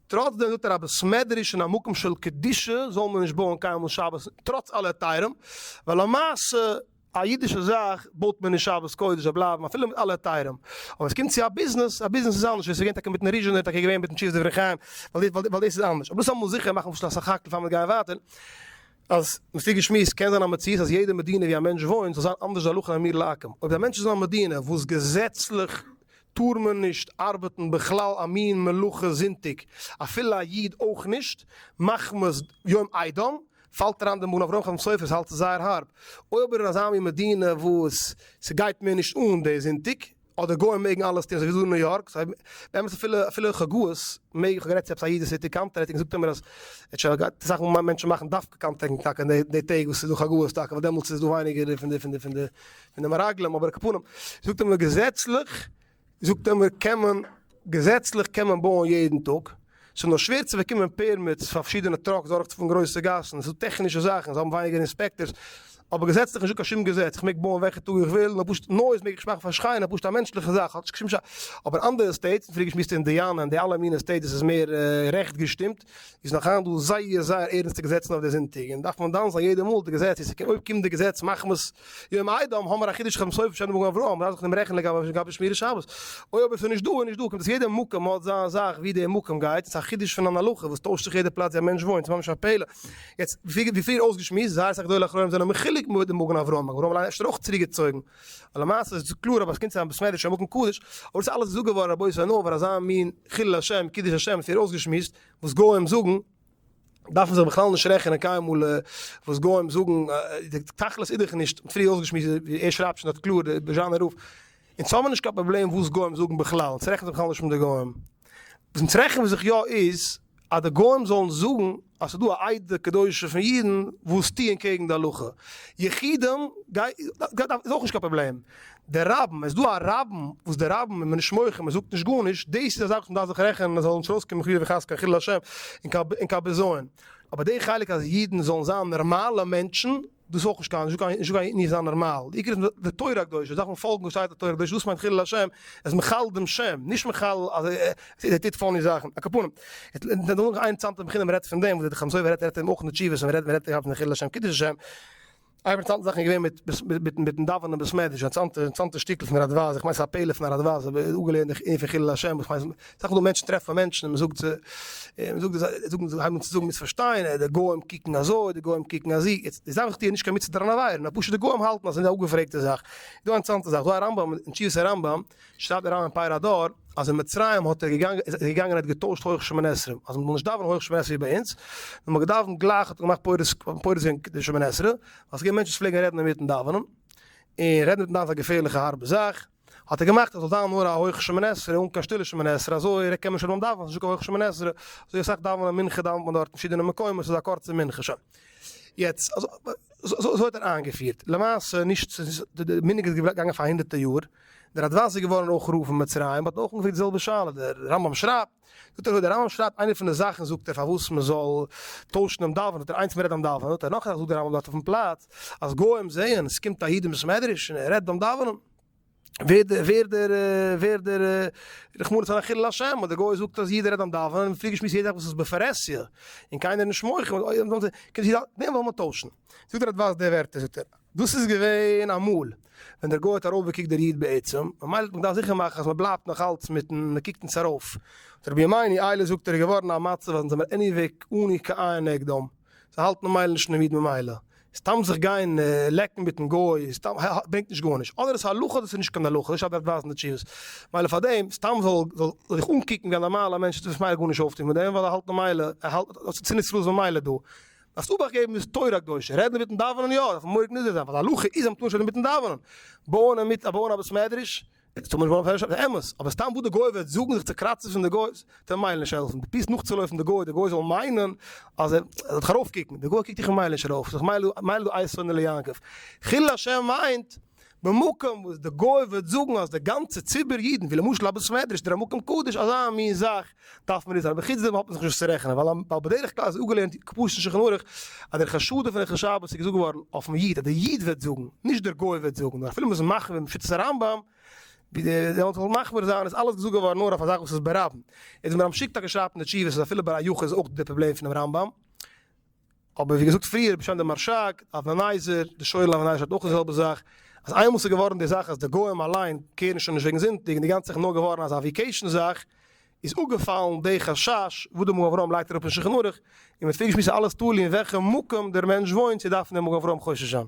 טראצדעם זאגט ער א בית מדרש אין א מקום של קדושה זאל מען נישט בויען קיינמאל שבת טראץ אלע היתרים, ווייל למעשה. א אידישע זאך בויט מען אין שבת קודש זאל בלייבן אפילו מיט אלע היתרים, אבער סקומט צו א ביזנעס, א ביזנעס איז אנדערש, ווי סגעווען טאקע מיטן ריזשען איז טאקע געווען מיטן תשובות דברי חיים, ווייל דאס איז אנדערש, אבער דאס אמאל זיכער מאכן פשוט א סך הכל פאר מיר גייען ווייטער, אז מ'פירט געשמועסט קען זיין א מציאות אז יעדע מדינה ווי א מענטש וואוינט זאל זיין אנדערש די הלכה אין אמיר לעקם, אויב די מענטש איז אין א מדינה וואס געזעצליך טאר מען נישט ארבעטן בכלל א מין מלאכה זונטאג אפילו א איד אויך נישט מחמת יום איידום, פאלט אריין די מוהל אויף רחמים סופר'ס האלץ איז זייער הארב, אויב איז ער אזא מין מדינה וואס ס'גייט מער נישט אן די זונטאג, אדער גוים מעגן אלעס טון אזויווי דא אין ניו יארק, סא באמת אפילו אפילו חגאות מעג, כ'האב גערעדט צו עפעס א איד וואס טוט קאנטרעקטינג זאגט ער מיר אז ער האט שוין אסאך מאל מענטשן מאכן דווקא קאנטרעקטינג טאקע אין די טעג וואס ס'איז דא חגאות טאקע ווייל דעמאלטס איז דא ווייניגער פון די פון די פון די פון די מרגלים, אבער על כל פנים זאגט ער מיר געזעצליך זאגט ער מיר קען מען, געזעצליך קען מען בויען יעדן טאג, ס'איז נאר שווער צו באקומען פערמיטס פאר פארשידענע טראקס דורכצופארן גרויסע גאסן, ס'דא טעכנישע זאכן, זיי האבן ווייניגער אינספעקטארס, אבער געזעצליך נישטא קיין שום געזעץ, איך מעג בויען וועלכע טאג איך וויל, נאר פשוט נויז מעג איך מאכן פאר שרייען איז פשוט א מענטשליכע זאך האט נישט קיין שום ש, אבער אנדערע סטעיטס, פריערדיגע שמיסטע אינדיאנע און די אלע מינע סטעיטס וואס איז מער רעכט געשטימט, איז נאך היינט דא זייער זייער ערענסטע געזעצן אויף די זונטאג און דארף מען דן זיין יעדע מאל די געזעץ איז ס'קען אויב קומט די געזעץ מחמת יום איידעם האבן מיר א חידוש חמס אויף שנים וגן אברהם מ'דארף זיך נעמען רעכענען לגבי לגבי שמירת שבת אוי אבער ס'איז נישט דא איז נישט דא קומט דאס יעדע מקום האט זיין זאך ווי די מקום גייט ס'איז א חידוש פון אן הלכה וואס טוישט זיך יעדע פלאץ ווי א מענטש וואוינט ס'ממש א פלא יעצט ווי פריער אויסגעשמועסט זייער אסאך גדולי אחרונים זענען מחולק מיט די מגן אברהם מגן אברהם אפשר אויך צוריקגעצויגן א למעשה איז עס קלאר אז עס קומט צו א בית מדרש אין מקום קדוש, אבער דאס אלעס איז אפגעווארן רבותי און נאר פאר אזא מין חילול השם קידוש השם וואס איר אויסגעשמועסט וואס גוים זאגן, דארף מען זיך בכלל נישט רעכענען קיינמאל וואס גוים זאגן, די תכלית איז דאך נישט, פריער אויסגעשמועסט ווי ער שרייבט שוין דארט קלאר די זשאנער רוף, אונז האבן נישט קיין פראבלעם וואס גוים זאגן בכלל, אונז רעכענען זיך בכלל נישט מיט די גוים, וואס אונז רעכענען זיך יא איז, אז די גוים זאלן זאגן אז ס'איז דא א עדה קדושה פון אידן וואס טוען קעגן די הלכה, יחידים איז אויך נישט קיין פראבלעם, די רבים, עס איז דא א רבים וואס די רבים איז מען נישט מוחה מען זאגט נישט גארנישט, דאס איז א זאך וואס מען דארף זיך רעכענען עס זאל נישט ארויסקומען חלילה וחס קיין חילול השם און קיין בזיון, אבער די חלק אז אידן זאלן זיין נארמאלע מענטשן, דאס אויך נישט קיין זשוק א אידן זיין נארמאל, די עיקר איז די תורה הקדושה דארף מען פאלגן וואס שטייט אין תורה הקדושה דאס מיינט חילול השם ער איז מחלל דעם שם נישט מחלל אז ער טוט פאני זאכן א קאפאנעם נאך אן אינטערעסאנטע בחינה מען רעדט פון דעם וואס דער חתם סופר רעדט רעדט אים אויך אין די תשובות מען רעדט מען רעדט פון חילול השם קידוש השם א אינטערעסאנטע זאך איז געווען מיט מיט מיטן דאווענען אין בית מדרש אינטערעסאנטע שטיקל פון הרדבז איך מיין ס'איז א פלא פון הרדבז איך האב אפגעלערנט די ענין פון חילול השם וואס מיינט סך הכל מענטשן טרעפן מענטשן און מען זאגט זיי און מען זאגט זיי זאגן הייבן אן צו זאגן מיט פארשטיין די גוים קוקן אזוי די גוים קוקן אזי יעצט די זאך טוען נישט קיין מצוה דארען עבירה נאר פשוט די גוים האלטן אז ס'איז א אפגעפרעגטע זאך איז דא א אינטערעסאנטע זאך דא א רמב ם אין תשובות הרמב ם שרייבט דער רמב ם אין פר' הדור אז אין מצרים האט ער געגאנגען איז ער געגאנגען האט געטוישט הויך שמונה עשרה אז מען זאל נישט דאווענען הויך שמונה עשרה ווי ביי אונז נאר מען האט געדאווענט גלייך האט ער געמאכט פורס פורס ווען די שמונה עשרה ווייל ס'געווען מענטשן וואס פלעגן רעדן אינמיטן דאווענען און רעדן אינמיטן דאווענען איז א געפערליכע הארבע זאך. האט ער געמאכט עס זאל זיין נאר א הויך שמונה עשרה אן קיין שטילע שמונה עשרה אזוי רעגט קען מען שוין נישט דאווענען ס'איז נישטא קיין הויך שמונה עשרה אזוי אסאך דאווענען מנחה דאווענט מען דארט אין פארשידענע מקומות ס'איז א קורצע מנחה שוין יעצט אזוי האט ער איינגעפירט למעשה נישט די מנהג איז געגאנגען פאר הונדערטער יאר דער ראדוואזי איז געווארן אויך רב אין מצרים האט אויך אנגעפרעגט די זעלבע שאלה דער רמב ם שרייבט זאגט ער אזוי, דער רמב ם שרייבט איינע פון די זאכן זאגט ער פארוואס מען זאל טוישן דעם דאווענען, זאגט ער איינס מען רעדט דעם דאווענען, זאגט ער נאך א זאך זאגט דער רמב ם דארט אויפן פלאץ, אז גוים זעען עס קומט א איד אין בית מדרש און ער רעדט דעם דאווענען, ווערט דער ווערט דער ווערט דער רחמנא ליצלן א חילול השם, און דער גוי זאגט אז איד רעדט דעם דאווענען און פריער געשמועסט יעדע זאך וואס איז בפרהסיא און קיינער נישט מוחל, דעם זאל מען טוישן, זאגט ער אדווארס די ווערטער זאגט ער. דאס איז געווען אמאל ווען דער גוי האט ארויפגעקוקט דער איד בעצם, ממילא האט מען געדארפט זיכער מאכן אז מען בלייבט נאך אלץ מיטן מען קוקט נישט ארויף. האט רבי ימיני איילער זאגט ער איז געווארן א מצב אז אונז זעמיר עניוועי אנהי ק עיין נגדם, זיי האלטן ממילא נישט אינעם איד ממילא סתם זיך גיין לעקן מיטן גוי סתם ברענגט נישט גארנישט, אדער עס איז הלכה אדער עס איז נישט קיין הלכה, נישט אז מען דארף ווייזן די תשובות, ממילא פארדעם סתם זאל זאל זיך אנקוקן ווי א נארמאלער מענטש וועט זיך ממילא גארנישט אויפטון מיט דעם ווייל ער האלט ממילא ער האלט אז ס'איז שנאת ישראל ממילא דא. דארפסט אבאכט געבן איז תורה קדושה, רעדן אינמיטן דאווענען יא, דארף מען מוחק נזהר זיין, ווייל די הלכה איז אז מען טאר נישט רעדן אינמיטן דאווענען, בויען א מיט א בויען א בית מדרש, איז טאר מען נישט בויען פאר אמת, אבער סתם וואס די גוי וועט זאגן זיך צו קראצן פון די גוי וועט אים ממילא נישט העלפן, די פירסט נאכצולויפן די גוי, די גוי זאל מיינען אז ער זאל דיך ארויפקוקן, די גוי קוקט דיך ממילא נישט ארויף, ממילא דו אייז שונא ליעקב, חילול השם מיינט. במקום וואס די גוי וועט זאגן אז די גאנצע ציבור אידן ווי למשל א בית מדרש אדער א מקום קדוש אזא מין זאך דארף מען נישט זיין אבער חוץ דעם האט מען זיך נישט וואס צו רעכענען ווייל בדרך כלל איז אפגעלערנט כפשוט אין שולחן ערוך אז דער חשדות פון ערכי שבת איז געזאגט געווארן אויפן איד אז דער איד וועט זאגן נישט דער גוי וועט זאגן נאר אפילו מ'איז מחמיר מיט שיטת הרמב ם ווי די זאלן זיך מחמיר זיין איז אלעס געזאגט געווארן נאר אויף א זאך וואס איז ברבים איז מיר המשיג טאקע שרייבט אין די תשובות אז אפילו ביי א יחיד איז אויך דא די פראבלעם פונעם רמב ם. אבער ווי געזאגט פריער, בשם די מרשג, לאווענייזער, די שויער לאווענייזער האט אויך די זעלבע זאך, אז איינמאל ס'איז געווארן די זאך אז די גוים אליין קעירן שוין נישט וועגן זונטאג און די גאנצע זאך איז נאר געווארן אזא וויקעישן זאך, איז אפגעפאלן די חשש וואס די מגן אברהם לייגט אראפ אין שולחן ערוך, און מ'האט פריער געשמועסט אלעס תלוי אין וועלכע מקום דער מענטש וואוינט צו דארפן דער מגן אברהם חושש זיין.